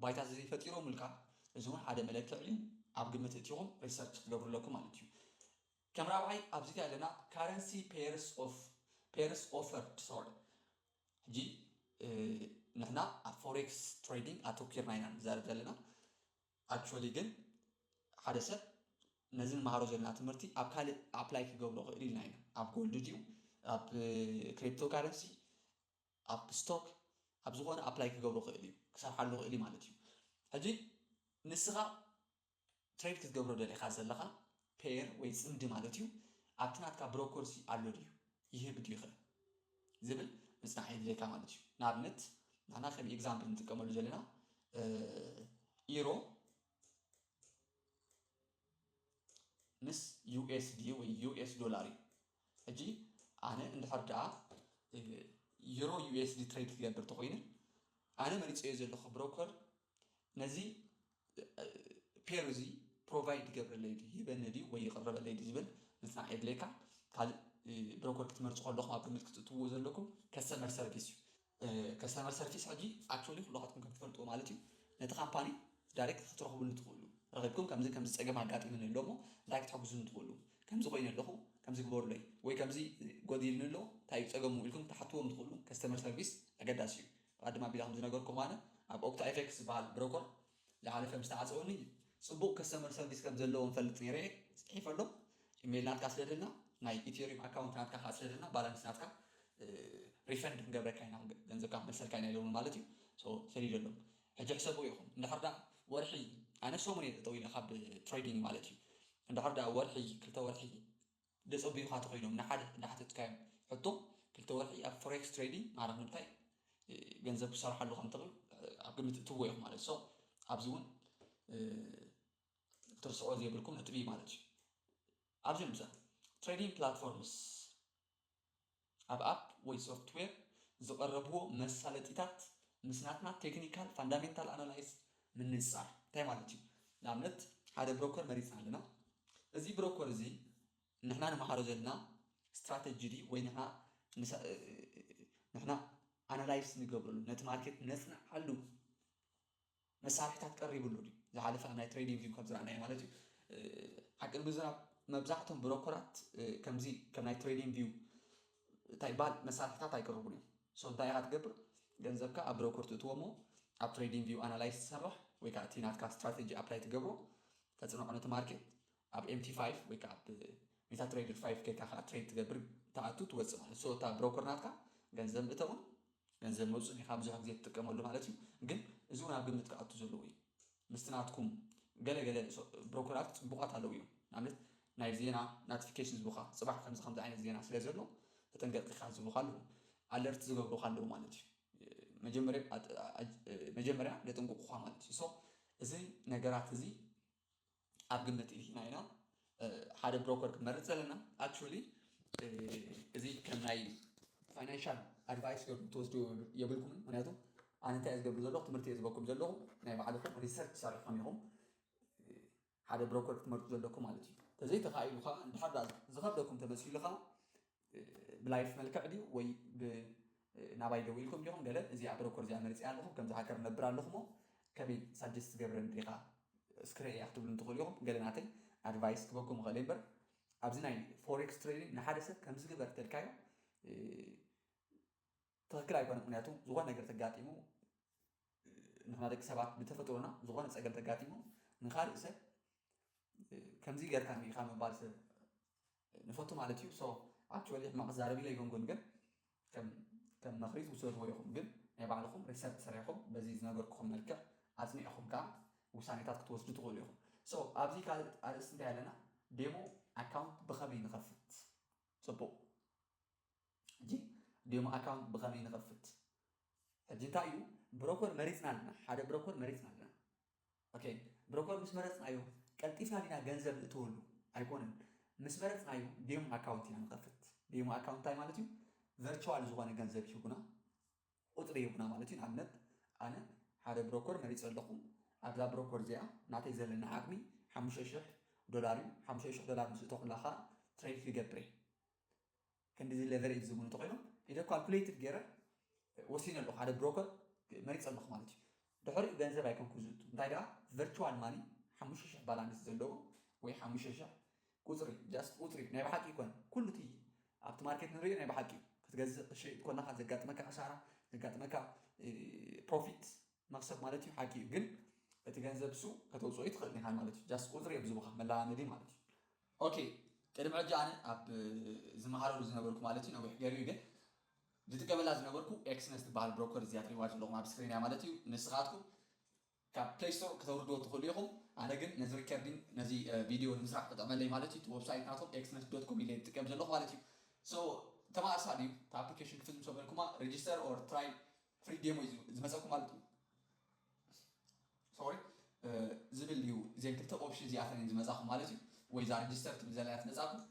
ባይታ ተዘይፈጢሮምልካ እዚ ውን ሓደ መለክዒ ዩ ኣብ ግምት እእቲኹም ሪሰርች ክትገብሩ ኣለኩም ማለት ዩ። ከም ራብዓይ ኣብዚ ታይ ኣለና ካረንሲ ፔርስ ኦፍ ፔርስ ኦፈር ሶሪ ሕጂ ንሕና ኣብ ፎሬክስ ትሬዲንግ ኣተኪርና ኢና ንዛረብ ዘለና ኣክቹዋሊ ግን ሓደ ሰብ ነዚ ንመሃሮ ዘለና ትምህርቲ ኣብ ካልእ ኣፕላይ ክገብሮ ክእል ኢልና ኢና ኣብ ጎልድ ድዩ ኣብ ክሪፕቶ ካረንሲ ኣብ ስቶክ ኣብ ዝኾነ ኣፕላይ ክገብሮ ክእል እዩ ክሰርሓሉ ክእል እዩ ማለት እዩ ሕጂ ንስኻ ትሬድ ክትገብሮ ደሊኻ ዘለኻ ፔር ወይ ጽምዲ ማለት እዩ ኣብቲ ናትካ ብሮኮርሲ ኣሎ ድዩ ይህብ ድዩኸ ዝብል ምጽናዕ የድልየካ ማለት እዩ ንኣብነት ናና ከም ኤግዛምፕል ንጥቀመሉ ዘለና ኢሮ ምስ ዩኤስዲ ወይ ዩኤስ ዶላር እዩ ሕጂ ኣነ እንድሕር ደኣ ዩሮ ዩኤስዲ ትሬድ ክገብር ተኮይነ ኣነ መሪፀዮ ዘለኹ ብሮከር ነዚ ፔር እዚ ፕሮቫይድ ይገብረለይ ድዩ ይበኒ ድዩ ወይ ይቕረበለይ ድዩ ዝብል ምፅናዕ የድልየካ ካልእ ብሮከር ክትመርፁ ከለኹም ኣብ ግምት ክትእትውዎ ዘለኩም ከስተመር ሰርቪስ እዩ ከስተመር ሰርቪስ ሕጂ ኣክቹዋሊ ኩላኻትኩም ከም ትፈልጥዎ ማለት እዩ ነቲ ካምፓኒ ዳይሬክት ክትረኽብሉ ትኽእሉ ረኺብኩም ከምዚ ከምዚ ፀገም ኣጋጢሙኒ ኣሎ እሞ እንታይ ክትሕግዙኒ ትኽእሉ ከምዚ ኮይነ ኣለኹ ከምዚ ግበሩለይ ወይ ከምዚ ጎዲልኒ ኣሎ እንታይ እዩ ፀገሙ ኢልኩም ክትሓትዎም ትኽእሉ ከስተመር ሰርቪስ ኣገዳሲ እዩ ቐድም ኣቢለ ከም ዝነገርኩም ኣነ ኣብ ኦክታ ኤፌክስ ዝበሃል ብሮኮር ላዕሊ ከም ዝተዓጸወኒ ጽቡቕ ከስተመር ሰርቪስ ከም ዘለዎም ፈልጥ ኔረ እየ ጽሒፈሎም ኢመይል ናትካ ስደደልና ናይ ኢትዩሪም ኣካውንት ናትካ ከኣ ስደደልና ባላንስ ናትካ ሪፈንድ ክንገብረካ ኢና ገንዘብካ ክንመልሰልካ ኢና ኢሎምኒ ማለት እዩ ሶ ሰዲደሎም ሕጂ ሕሰብዎ ኢኹም እንድሕር ደኣ ወርሒ ኣነ ሰሙን እየ ጠጠው ኢለ ካብ ትሬዲንግ ማለት እዩ እንድሕር ደኣ ወርሒ ክልተ ወርሒ ደጸብዩኻ ተኸይዶም ንሓደ እንዳሓተትካዮም ሕቶ ክልተ ወርሒ ኣብ ፎሬክስ ትሬዲንግ ማለት ንምታይ ገንዘብ ክሰርሓሉ ከም ትኽእል ኣብ ግምት እትዎ ኢኹም ማለት ሶ ኣብዚ እውን ክትርስዑ ዘይብልኩም ነጥቢ ማለት እዩ ኣብዚኦም ብዛ ትሬዲንግ ፕላትፎርምስ ኣብ ኣፕ ወይ ሶፍትዌር ዝቐረብዎ መሳለጢታት ምስ ናትና ቴክኒካል ፋንዳሜንታል ኣናላይዝ ምንጽጻር እንታይ ማለት እዩ? ንኣብነት ሓደ ብሮከር መሪጽና ኣለና። እዚ ብሮከር እዚ ንሕና ንመሃሮ ዘለና ስትራተጂ ድዩ ወይ ንሕና ንሕና ኣናላይዝ ንገብረሉ ነቲ ማርኬት ነጽንዓሉ? መሳርሒታት ቀሪብሉ ድዩ? ዝሓለፈ ኣብ ናይ ትሬዲንግ ቪው ከምዝረኣናዮ ማለት እዩ። ሓቂ ንምዝራብ መብዛሕቶም ብሮኮራት ከምዚ ከም ናይ ትሬዲንግ ቪው እንታይ ይበሃል መሳርሒታት ኣይቅርቡን እዮም። ሶ እንታይ ኢኻ ትገብር ገንዘብካ ኣብ ብሮኮር ትእትዎ እሞ ኣብ ትሬዲንግ ቪው ኣናላይዝ ትሰርሕ ወይ ከዓ እቲ ናትካ ስትራቴጂ ኣፕላይ ትገብሮ ተፅንዖ ነቲ ማርኬት ኣብ ኤምቲ ፋይቭ ወይ ከዓ ኣብ ሜታ ትሬደር ፋይቭ ከይካ ከዓ ትሬድ ትገብር ትኣቱ ትወፅእ ማለት ሶ እታ ብሮኮር ናትካ ገንዘብ ምእተውን ገንዘብ መውጽኢ ዲኻ ብዙሕ ግዜ ትጥቀመሉ ማለት እዩ ግን እዚ ውን ኣብ ግምት ክኣቱ ዘለዎ እዩ ምስቲ ናትኩም ገለ ገለ ብሮከራት ጽቡቃት ኣለው እዮም ንኣብነት ናይ ዜና ናትፊኬሽን ዝቡካ ጽባሕ ከምዚ ከምዚ ዓይነት ዜና ስለ ዘሎ ተጠንቀቅ ኢኻ ዝቡካ ኣለው ኣለርት ዝገብሩካ ኣለው ማለት እዩ መጀመርያ መጀመርያ የጥንቁቁካ ማለት እዩ ሶ እዚ ነገራት እዚ ኣብ ግምት እቲና ኢና ሓደ ብሮከር ክንመርፅ ዘለና ኣክቹዋሊ እዚ ከም ናይ ፋይናንሻል ኣድቫይስ ገርኩም ትወስዱ የብልኩምን ምክንያቱ ኣነ እንታይ ዝገብሩ ዘለኹ ትምህርቲ እየ ዝበኩም ዘለኹ ናይ ባዕልኹም ሪሰርች ሰሪሕኩም ኢኹም ሓደ ብሮከር ክትመርፁ ዘለኩም ማለት እዩ ተዘይተኻኢሉ ከዓ እንድሓር ዝኸብደኩም ተመሲሉ ከዓ ብላይፍ መልክዕ ድዩ ወይ ብ ናባይ ደዊልኩም ዲኹም ገለ እዚኣ ብረኮርድ እዚኣ መሪጸያ ኣለኹ ከምዚ ሃከር ነብር ኣለኹሞ ከመይ ሳጀስት ትገብረኒ ዲኻ እስኪ ረኤያ ክትብሉኒ ትኽእሉ ኢኹም ገለ ናተይ ኣድቫይስ ክበኩም ይኽእል እየ እምበር ኣብዚ ናይ ፎሬክስ ትሬዲንግ ንሓደ ሰብ ከምዚ ግበር ተልካዮ ትክክል ኣይኮነን ምክንያቱ ዝኮነ ነገር ተጋጢሙ ንሕና ደቂ ሰባት ብተፈጥሮና ዝኮነ ፀገም ተጋጢሙ ንካሊእ ሰብ ከምዚ ገርካኒ ኢካ ምባል ሰብ ንፈቱ ማለት እዩ ሶ ኣክቹዋሊ ሕማቅ ክዛረብ ኢለ ኣይኮንኩን ግን ከም ከም መክሪ ትውሰድዎ ኢኩም ግን ናይ ባዕልኩም ሪሰርች ሰሪሕኩም በዚ ዝነገርኩኩም መልክዕ ኣፅኒዕኩም ከዓ ውሳኔታት ክትወስዱ ትክእሉ ኢኩም ሶ ኣብዚ ካልእ ኣርእስቲ እንታይ ኣለና ዴሞ ኣካውንት ብከመይ ንከፍት ፅቡቅ ሕጂ ዴሞ ኣካውንት ብኸመይ ንኸፍት ሕጂ እንታይ እዩ ብሮኮር መሪጽና ኣለና ሓደ ብሮኮር መሪጽና ኣለና ኦኬ ብሮኮር ምስ መረጽናዮ ቀልጢፍና ዲና ገንዘብ ንእትወሉ ኣይኮነን ምስ መረጽናዮ ዴሞ ኣካውንት ኢና ንኸፍት ዴሞ ኣካውንት እንታይ ማለት እዩ ቨርቹዋል ዝኾነ ገንዘብ ይህቡና ቁጽሪ ይህቡና ማለት እዩ ንኣብነት ኣነ ሓደ ብሮኮር መሪጸ ኣለኹ ኣብዛ ብሮኮር እዚኣ ናተይ ዘለና ዓቕሚ ሓሙሽተ ሽሕ ዶላር እዩ ሓሙሽተ ሽሕ ዶላር ምስ እተኹላ ከዓ ትሬድ ክገብር እየ ክንድዚ ለቨሬጅ ዝብሉ እንተኾይኖም ኢለ ኳልኩሌትድ ገይረ ወሲነ ኣለኹ፣ ሓደ ብሮከር መሪፀ ኣለኹ ማለት እዩ። ድሕሪኡ ገንዘብ ኣይኮንኩን ዝእቱ እንታይ ደኣ ቨርቹዋል ማኒ ሓሙሽተ ሽሕ ባላንስ ዘለዎ ወይ ሓሙሽተ ሽሕ ቁፅሪ ጃስት ቁፅሪ ናይ ብሓቂ ኣይኮነን ኩሉ እቲ ኣብቲ ማርኬት ንሪኦ ናይ ብሓቂ እዩ ክትገዝእ ክትሸይጥ ኮለኻ ዘጋጥመካ ክሳራ ዘጋጥመካ ፕሮፊት መኽሰብ ማለት እዩ ሓቂ እዩ ግን እቲ ገንዘብ እሱ ከተውፅኦ ኣይትኽእልን ኢኻ ማለት እዩ ጃስት ቁፅሪ እዮም ዝህቡኻ መለማመዲ ማለት እዩ። ኦኬ ቅድሚ ሕጂ ኣነ ኣብ ዝመሃረሉ ዝነበርኩ ማለት እዩ ነዊሕ ገሩ እዩ ግን ዝጥቀመላ ዝነበርኩ ኤክስነስ ትበሃል ብሮከር እዚኣ ትሪእዋ ዘለኹም ኣብ ስክሪን እያ ማለት እዩ ንስኻትኩም ካብ ፕሌይ ስቶር ክተውርድዎ ትኽእሉ ኢኹም ኣነ ግን ነዚ ሪከርዲንግ ነዚ ቪድዮ ንምስራሕ ክጠቅመለይ ማለት እዩ እቲ ወብሳይት ናቶም ኤክስነስ ዶት ኮም ኢለ ዝጥቀም ዘለኹ ማለት እዩ ሶ ተማእሳሊ እዩ እቲ ኣፕሊኬሽን ክፍዝም ሰበልኩማ ሬጅስተር ኦር ትራይ ፍሪ ዴሞ እዩ ዝመፀኩም ማለት እዩ ሶሪ ዝብል እዩ እዘን ክልተ ኦፕሽን እዚኣተን እየን ዝመፃኹም ማለት እዩ ወይ እዛ ሬጅስተር ትብል ዘላ ትመፃኩም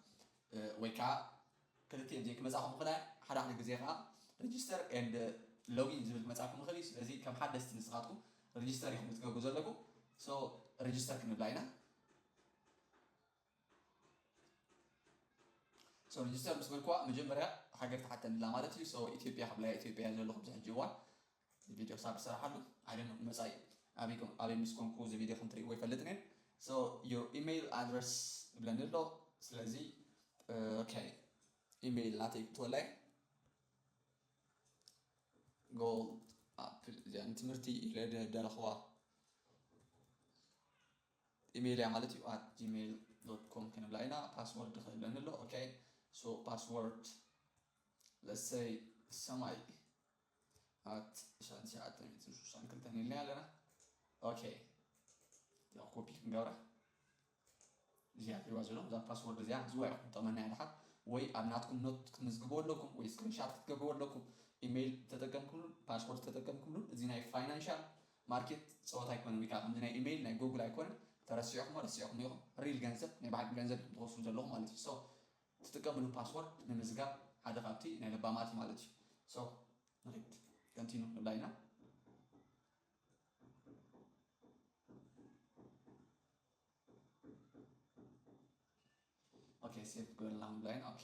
ወይ ከዓ ክልቲኤን እዚኤን ክመፃኹም ይኽእላ ሓደ ሓደ ግዜ ከዓ ሬጅስተር ኤንድ ሎጊን ዝብል ክመፃኩም ይኽእል እዩ ስለዚ ከም ሓደስቲ ንስኻትኩም ሬጅስተር ኢኹም ክትገብሩ ዘለኩም ሶ ሬጅስተር ክንብላ ኢና ሶ ሚኒስተር ምስ በልኩዋ መጀመርያ ሃገር ትሓተንላ ማለት እዩ ሶ ኢትዮጵያ ክብላያ ኢትዮጵያ እያ ዘለኹ ኣብዚ ሕጂ እዋን እዚ ቪድዮ ክሳብ ዝሰራሓሉ ኣይደኖ መጻኢ ኣበይ ምስ ኮንኩ እዚ ቪድዮ ከም ትርእይዎ ይፈልጥ ነን ሶ ዮር ኢሜይል ኣድረስ ይብለኒ ኣሎ ስለዚ ኦኬ ኢሜይል ናተይ ክትወላይ ጎል ኣፕል እዚኣ ንትምህርቲ ኢለ ደረኽዋ ኢመይል እያ ማለት እዩ ኣት ጂመይል ዶት ኮም ክንብላ ኢና ፓስወርድ ክህልወኒ ኣሎ ኦኬ ሶ ፓስወርድ ለሰይ ሰማይ ኣት ሻን ሸዓተ ሚእትን ሽዱሽተን ክልተን ኢልና ኣለና ኦኬ እዚኣ ኮፒ ክንገብራ እዚኣ ትሪዋ ዘለኹም እዛ ፓስወርድ እዚኣ ሕዝዋ ኢኹም ጠመና እያ ድሓር ወይ ኣብ ናትኩም ኖት ክትምዝግቦ ኣለኩም ወይ ስክሪንሻት ክትገብርዎ ኣለኩም ኢሜይል ተጠቀምኩምሉን ፓስወርድ ተጠቀምኩምሉን እዚ ናይ ፋይናንሻል ማርኬት ጸወታ ኣይኮነን ወይ ከኣ ከምዚ ናይ ኢመይል ናይ ጎጉል ኣይኮነን ተረሲዕክሞ ረሲዕክሞ ኢኹም ሪል ገንዘብ ናይ በዓልኩም ገንዘብ ኢኹም ትወስዱ ዘለኹም ማለት እዩ so ትጥቀምሉ ፓስወርድ ምምዝጋብ ሓደ ካብቲ ናይ ለባማት እዩ ማለት እዩ so ንኺድ continue ንብላ ኢና ኦኬ ሴቭ ግበርልና ንብላ ኢና ኦኬ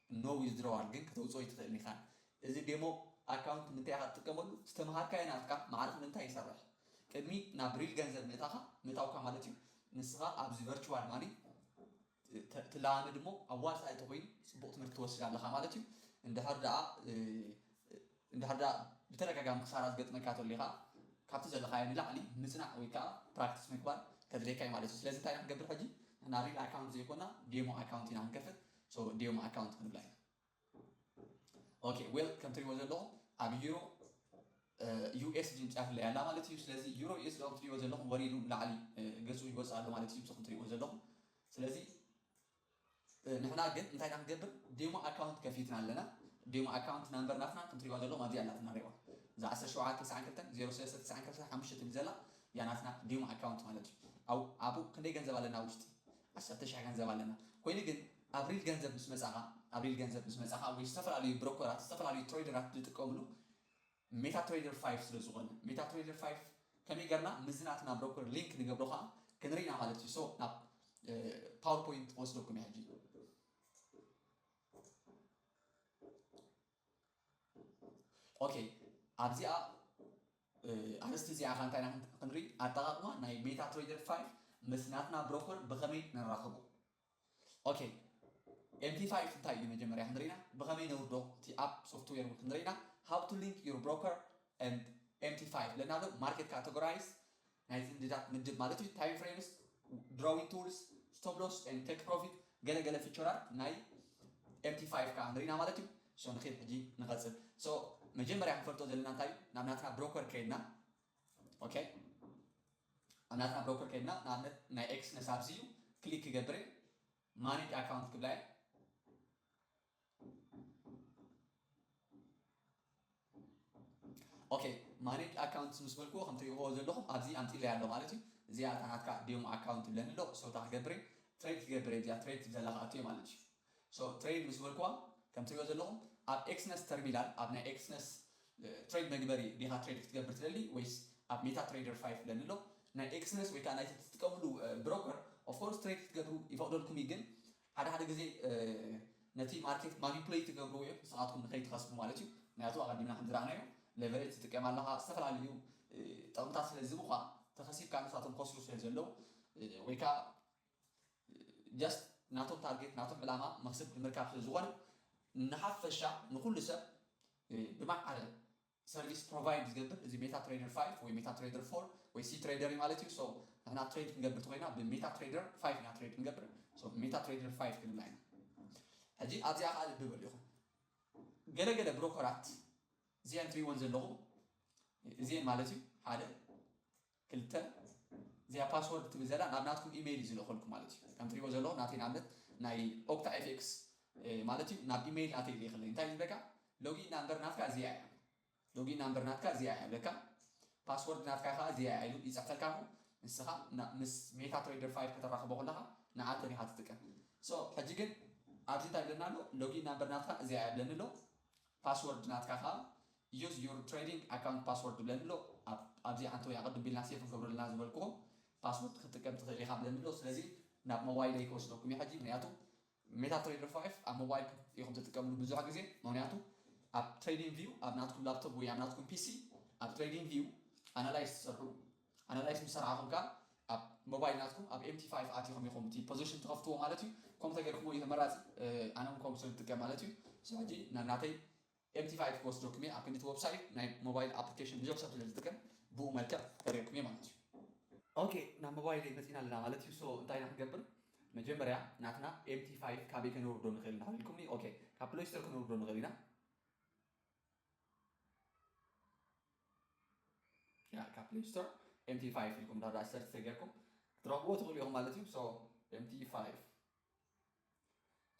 No withdrawal ግን ከተውጽኦ ኣይትኽእልን ኢኻ። እዚ ዴሞ ኣካውንት ምንታይ ኢኻ ትጥቀመሉ? ዝተመሃርካዮ ናትካ ማዕርፍ ምንታይ ይሰርሕ? ቅድሚ ናብ ሪል ገንዘብ ምእታኻ ምእታውካ ማለት እዩ ንስኻ ኣብዚ ቨርቹዋል ማኒ ትለማመድ እሞ ኣዋጻኢ ተኾይኑ ጽቡቕ ትምህርቲ ትወስድ ኣለኻ ማለት እዩ። እንድሕር ደኣ እንድሕር ደኣ ብተደጋጋሚ ክሳራ ዝገጥመካ ተሎ ኢኻ ካብቲ ዘለኻዮ ንላዕሊ ምጽናዕ ወይ ከኣ ፕራክቲስ ምግባር ከድልየካ እዩ ማለት እዩ። ስለዚ እንታይ ኢና ክንገብር ሕጂ ንሕና ሪል ኣካውንት ዘይኮና ዴሞ ኣካውንት ኢና ክንከፍት። So ዲዮም ኣካውንት ክንብላ ኢና ኦኬ ዌል ከም ትሪእዎ ዘለኹም ኣብ ዩሮ ዩኤስ ድንጫፍ ላይ ኣላ ማለት እዩ ስለዚ ዩሮ ዩኤስ ዶ ትሪእዎ ዘለኹም ወሪዱ ላዕሊ ገጹ ይወጽእ ኣሎ ማለት እዩ ብስኹም ትሪእዎ ዘለኹም ስለዚ ንሕና ግን እንታይ ኢና ክንገብር ዴሞ ኣካውንት ከፊትና ኣለና ዴሞ ኣካውንት ናምበር ናትና ከም ትሪእዋ ዘለኹም ኣብዚኣ ኣላ ትናሪእዋ እዛ 1792 ትብል ዘላ ያ ናትና ዴሞ ኣካውንት ማለት እዩ ኣብኡ ክንደይ ገንዘብ ኣለና ውሽጢ ዓሰርተ ሽሕ ገንዘብ ኣለና ኮይኑ ግን ኣብሪል ገንዘብ ምስ መጻኻ ኣብሪል ገንዘብ ምስ መጻኻ ወይ ዝተፈላለዩ ብሮኮራት ዝተፈላለዩ ትረይደራት ዝጥቀምሉ ሜታ ትረይደር ፋይፍ ስለ ዝኾነ ሜታ ትረይደር ፋይፍ ከመይ ገርና ምስዚ ናትና ብሮኮር ሊንክ ንገብሮ ከኣ ክንርኢ ኢና ማለት እዩ ሶ ናብ ፓወር ፖይንት ክወስደኩም እዩ ሕጂ ኦኬ ኣብዚኣ ኣርእስቲ እዚኣ ከ እንታይ ኢና ክንርኢ ኣጠቃቅማ ናይ ሜታ ትሬደር ፋይል ምስ ናትና ብሮከር ብከመይ ነራኽቦ ኦኬ ኤምቲ ፋይል እንታይ እዩ መጀመርያ ክንርኢና ብከመይ ነውርዶ እቲ ኣብ ሶፍትዌር እውን ክንርኢና ሃው ቱ ሊንክ ዩር ብሮከር ኤምቲ ፋይል ለና ኣሎ ማርኬት ካቴጎራይዝ ናይ ዝምድዳት ምድብ ማለት እዩ፣ ታይም ፍሬምስ፣ ድሮዊን ቱልስ፣ ስቶፕ ሎስ ኤንድ ቴክ ፕሮፊት ገለ ገለ ፊቸራት ናይ ኤምቲ ፋይቭ ከኣ ንርኢና ማለት እዩ። ሶ ንኪድ ሕጂ ንቀጽል። ሶ መጀመርያ ክንፈልጦ ዘለና እንታይ እዩ ናብ ናትና ብሮከር ከይድና ኦኬ ኣብ ናትና ብሮከር ከይድና ንኣብነት ናይ ኤክስነስ ኣብዚ እዩ ክሊክ ክገብር እየ ማኔጅ ኣካውንት ክብላ እየ ኦኬ ማኔጅ ኣካውንትስ ምስ በልክዎ ከም ትሪእዎ ዘለኹም ኣብዚ ኣምጺለያ ኣሎ ማለት እዩ እዚኣ እታ ናትካ ዴሞ ኣካውንት ትብለኒ ኣሎ ሶ እታ ክገብር እየ ትሬድ ክገብር እየ እዚኣ ትሬድ ትብል ዘላ ክኣቱ እየ ማለት እዩ ሶ ትሬድ ምስ በልክዋ ከም ትሪእዎ ዘለኹም ኣብ ኤክስነስ ተርሚናል ኣብ ናይ ኤክስነስ ትሬድ መግበሪ ዲኻ ትሬድ ክትገብር ትደሊ ወይስ ኣብ ሜታ ትሬደር ፋይፍ ብለኒ ኣሎ ናይ ኤክስነስ ወይ ከዓ ናይቲ ትጥቀምሉ ብሮከር ኦፍኮርስ ትሬድ ክትገብሩ ይፈቕደልኩም እዩ ግን ሓደ ሓደ ግዜ ነቲ ማርኬት ማኒፕለይት ትገብርዎ እዮም ንስኻትኩም ንኸይትኸስቡ ማለት እዩ ምክንያቱ ኣቐዲምና ከምዝረኣናዮ ሌቨሬጅ ትጥቀም ኣለኻ ዝተፈላለዩ ጠቕምታት ስለዝህቡኻ ተኸሲብካ ንሳቶም ክኸስሩ ስለዘለዉ ወይ ከዓ ጃስት ናቶም ታርጌት ናቶም ዕላማ መኽስብ ንምርካብ ስለዝኾነ ንሓፈሻ ንኹሉ ሰብ ብማዕረ ሰርቪስ ፕሮቫይድ ዝገብር እዚ ሜታ ትሬደር ፋይፍ ወይ ሜታ ትሬደር ፎር ወይ ሲ ትሬደር እዩ ማለት እዩ ሶ ንሕና ትሬድ ክንገብር ተኾይና ብሜታ ትሬደር ፋይፍ ኢና ትሬድ ክንገብር ሶ ሜታ ትሬደር ፋይፍ ክንብላ ኢና ሕጂ ኣብዚኣ ከዓ ልቢ በሉ ኢኹም ገለ ገለ ብሮኮራት እዚኣን ትሪእወን ዘለኹም እዚኤን ማለት እዩ ሓደ ክልተ፣ እዚኣ ፓስዎርድ ትብል ዘላ ናብ ናትኩም ኢመይል እዩ ዝልእኸልኩም ማለት እዩ። ከም ትሪእዎ ዘለኹም ናተይ ንኣብነት ናይ ኦክታ FX ማለት እዩ ናብ ኢመይል ናተይ ይልእኸለይ። እንታይ ዝብለካ ሎጊን ናምበር ናትካ እዚኣ እያ። ሎጊን ናምበር ናትካ እዚኣ እያ ይብለካ። ፓስዎርድ ናትካ ከኣ እዚኣ እያ ኢሉ ይጽሕፈልካ እሞ ንስኻ ምስ ሜታ ትሬደር ፋይል ከተራኽቦ ከለኻ ንዓተን ኢኻ ትጥቀም። ሶ ሕጂ ግን ኣብዚ እንታይ ይብለና ኣሎ ሎጊን ናምበር ናትካ እዚኣ እያ ይብለኒ ኣሎ። ፓስወርድ ናትካ ከኣ use your trading account password ይብለኒ ኣሎ ኣብ ኣብዚ ሓንቲ ወይ ኣቅድም ቢልና ሴቭ ንገብረልና ዝበልክዎ ፓስወርድ ክትጥቀም ትክእል ኢካ ብለኒ ኣሎ ስለዚ ናብ ሞባይለይ ክወስደኩም እዩ ሕጂ ምክንያቱ MetaTrader five ኣብ ሞባይልኩም ኢኩም ትጥቀምሉ ብዙሕ ግዜ ምክንያቱ ኣብ trading view ኣብ ናትኩም ላፕቶፕ ወይ ኣብ ናትኩም ፒሲ ኣብ trading view ኣናላይዝ ትሰርሑ ኣናላይዝ ምስ ሰርዓኹም ከኣ ኣብ ሞባይል ናትኩም ኣብ ኤምቲ ፋይፍ ኣቲኹም ኢኹም እቲ ፖዘሽን ትኸፍትዎ ማለት እዩ ከምኡ ተገይርኩሞ እዩ ተመራጺ ኣነ ውን ከምኡ ስለ ዝጥቀም ማለት እዩ ስለ ሕጂ ናናተይ ኤምቲ ፋይፍ ክወስደኩም እየ ኣብ ክንዲ እቲ ወብሳይት ናይ ሞባይል ኣፕሊኬሽን ብዙሕ ሰብ ስለ ዝጥቀም ብኡ መልክዕ ከርእየኩም እየ ማለት እዩ። Ok ናብ ሞባይለይ መጺእና ኣለና ማለት እዩ so እንታይ ኢና ክንገብር መጀመርያ ናትና ኤምቲ ፋይፍ ካበይ ከነውርዶ ንኽእል እንዳ በልኩምኒ ok ካብ ፕለይ ስቶር ከነውርዶ ንኽእል ኢና። ያ ካብ ፕሌይ ስቶር ኤምቲ ፋይቭ ኢልኩም ዳዳ ሰርች ተገርኩም ክትረኽብዎ ትኽእሉ ኢኹም ማለት እዩ ሶ ኤምቲ ፋይቭ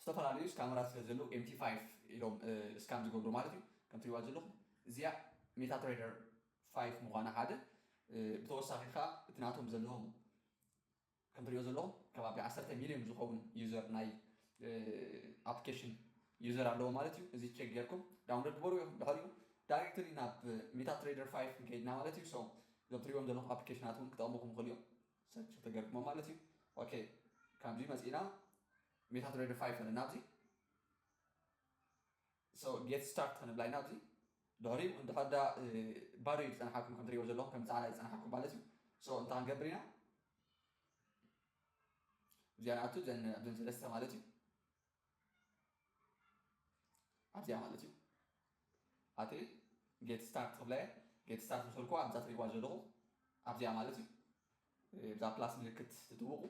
ዝተፈላለዩ ስካመራ ስለ ዘለዉ ኤምቲ ፋይቭ ኢሎም እስካም ዝገብሩ ማለት እዩ ከም ትሪዋ ዘለኹም እዚያ ሜታ ትሬደር ፋይቭ ምዃና ሓደ ብተወሳኺ ከዓ እቲ ናቶም ዘለዎም ከም ትሪእዮ ዘለኹም ከባቢ ዓሰርተ ሚልዮን ዝኸውን ዩዘር ናይ ኣፕሊኬሽን ዩዘር ኣለዎ ማለት እዩ። እዚ ቼክ ጌርኩም ዳውንሎድ ግበርዎ ኢኹም። ድሕሪኡ ዳይሬክትሊ ናብ ሜታትሬደር ፋይፍ ክንከይድና ማለት እዩ። ሶ እዞም ትሪእዎም ዘለኹም ኣፕሊኬሽናት እውን ክጠቕሙኹም ይኽእሉ እዮም። ሰርች እንተገርኩሞም ማለት እዩ። ኦኬ ከምዚ መጺእና ሜታትሬደር ፋይፍ ኣለና ኣብዚ So get start ክንብላ ኢና ኣብዚ ድሕሪኡ እንድሕር ድኣ ባዶ እዩ ዝጸንሓኩም ከም ትሪእዎ ዘለኹም ከም ጻዕዳ ይጸንሓኩም ማለት እዩ so እንታይ ክንገብር ኢና እዚኣ ንኣቱ ዘን ኣብዘን ሰለስተ ማለት እዩ ኣብዚኣ ማለት እዩ ኣቲ ጌት ስታርት ክብላ እየ ጌት ስታርት ምስ በልኩዋ ኣብዛ ትሪእዋ ዘለኹም ኣብዚኣ ማለት እዩ እዛ ፕላስ ምልክት ትጥውቑ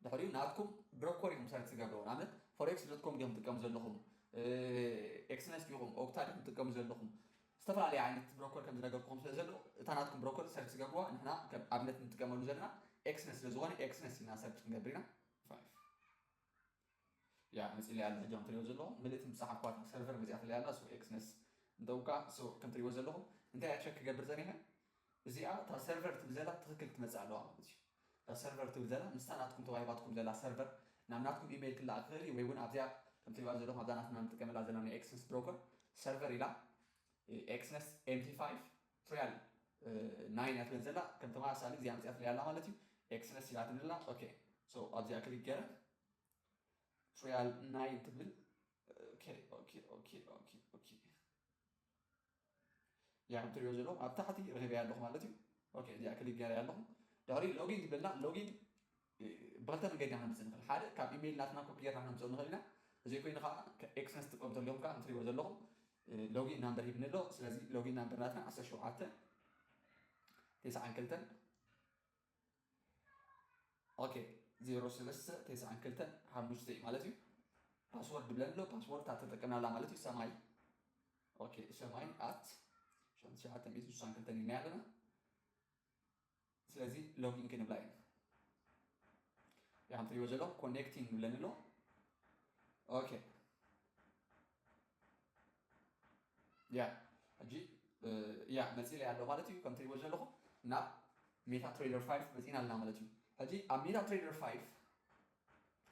ድሕሪኡ ናትኩም ብሮኮር ኢኹም ሰርች ዝገብርዎ ንኣብነት ፎሬክስ ዶት ኮም ድኹም ትጥቀሙ ዘለኹም ኤክስነስ ዲኹም ኦክታ ዲኹም ትጥቀሙ ዘለኹም ዝተፈላለየ ዓይነት ብሮኮር ከም ዝነገርኩም ስለ ዘሎ እታ ናትኩም ብሮኮር ሰርች ዝገብርዋ ንሕና ከም ኣብነት ንጥቀመሉ ዘለና ኤክስነስ ስለ ዝኾነ ኤክስነስ ኢልና ሰርች ክንገብር ኢና እያ መጺለይ ኣላ ሕጂ ከምትሪእዎ ዘለኹም ምልእቲ ምስ ጸሓፍክዋ እታ ሰርቨር መጺኣትለይ ኣላ so xness እንተውቃዕ so ከምትሪእዎ ዘለኹም እንታይ እያ ቸክ ክገብር ጸኒሐ እዚኣ እታ ሰርቨር ትብል ዘላ ብትኽክል ክትመጽእ ኣለዋ ማለት እዩ እታ ሰርቨር ትብል ዘላ ምስታ ናትኩም ተዋሂባትኩም ዘላ ሰርቨር ናብ ናትኩም ኢሜይል ክለኣኽ ይኽእል እዩ ወይ እውን ኣብዚኣ ከምትሪእዋ ዘለኹም ኣብዛ ናትና ንጥቀመላ ዘለና ናይ ኤክስንስ ብሮከር ሰርቨር ኢላ ኤክስነስ ኤምቲ ፋይቭ ትሪያል ናይን እያ ትብል ዘላ ከም ተመሳሳሊ እዚኣ ኣምፂኣትለይ ኣላ ማለት እዩ ኤክስነስ ሂባትኒ ኣላ ኦኬ ሶ ኣብዚኣ ክሊክ ገይረ ትሪያል ናይን ትብል ኦኬ ኦኬ ኦኬ ኦኬ ኦኬ እዚኣ ከም ትሪኦ ዘለኹም ኣብ ታሕቲ ረኺበያ ኣለኹ ማለት እዩ ኦኬ እዚኣ ክሊክ ገይረያ ኣለኹ ድሕሪ ሎጊን ትብለና ሎጊን ብኽልተ መንገዲ ኢና ክንድዚ ንኽእል። ሓደ ካብ ኢመይል ናትና ኮፒ ጌርና ክነምጽኦ ንኽእል ኢና። ተዘይ ኮይኑ ከኣ ኤክሰን ዝጥቀሙ ዘለኹም ከኣ ከም ትርእይዎ ዘለኹም ሎጊን ናምበር ሂብኒ ኣሎ። ስለዚ ሎጊን ናምበር ናትና ዓሰርተ ሸውዓተ ቴስዓን ክልተን ኦኬ ዜሮ ሰለስተ ቴስዓን ክልተን ሓሙሽተ እዩ ማለት እዩ። ፓስወርድ ብለን ኣሎ ፓስወርድ እታ ተጠቀምናላ ማለት እዩ ሰማይ ኦኬ ሰማይ ኣት ሸውዓተ ሚእቲ ስሳን ክልተን ኢልና ኣለና ስለዚ ሎጊን ክንብላ ኢና ያም ትሪእዎ ዘለኹም ኮኔክቲንግ ይብለኒ ኣሎ ኦኬ ያ ሕጂ ያ መፂለይ ኣሎ ማለት እዩ ከም ትሪእዎ ዘለኹም ናብ ሜታ ትሬደር 5 መፂና ኣለና ማለት እዩ ሕጂ ኣብ ሜታ ትሬደር 5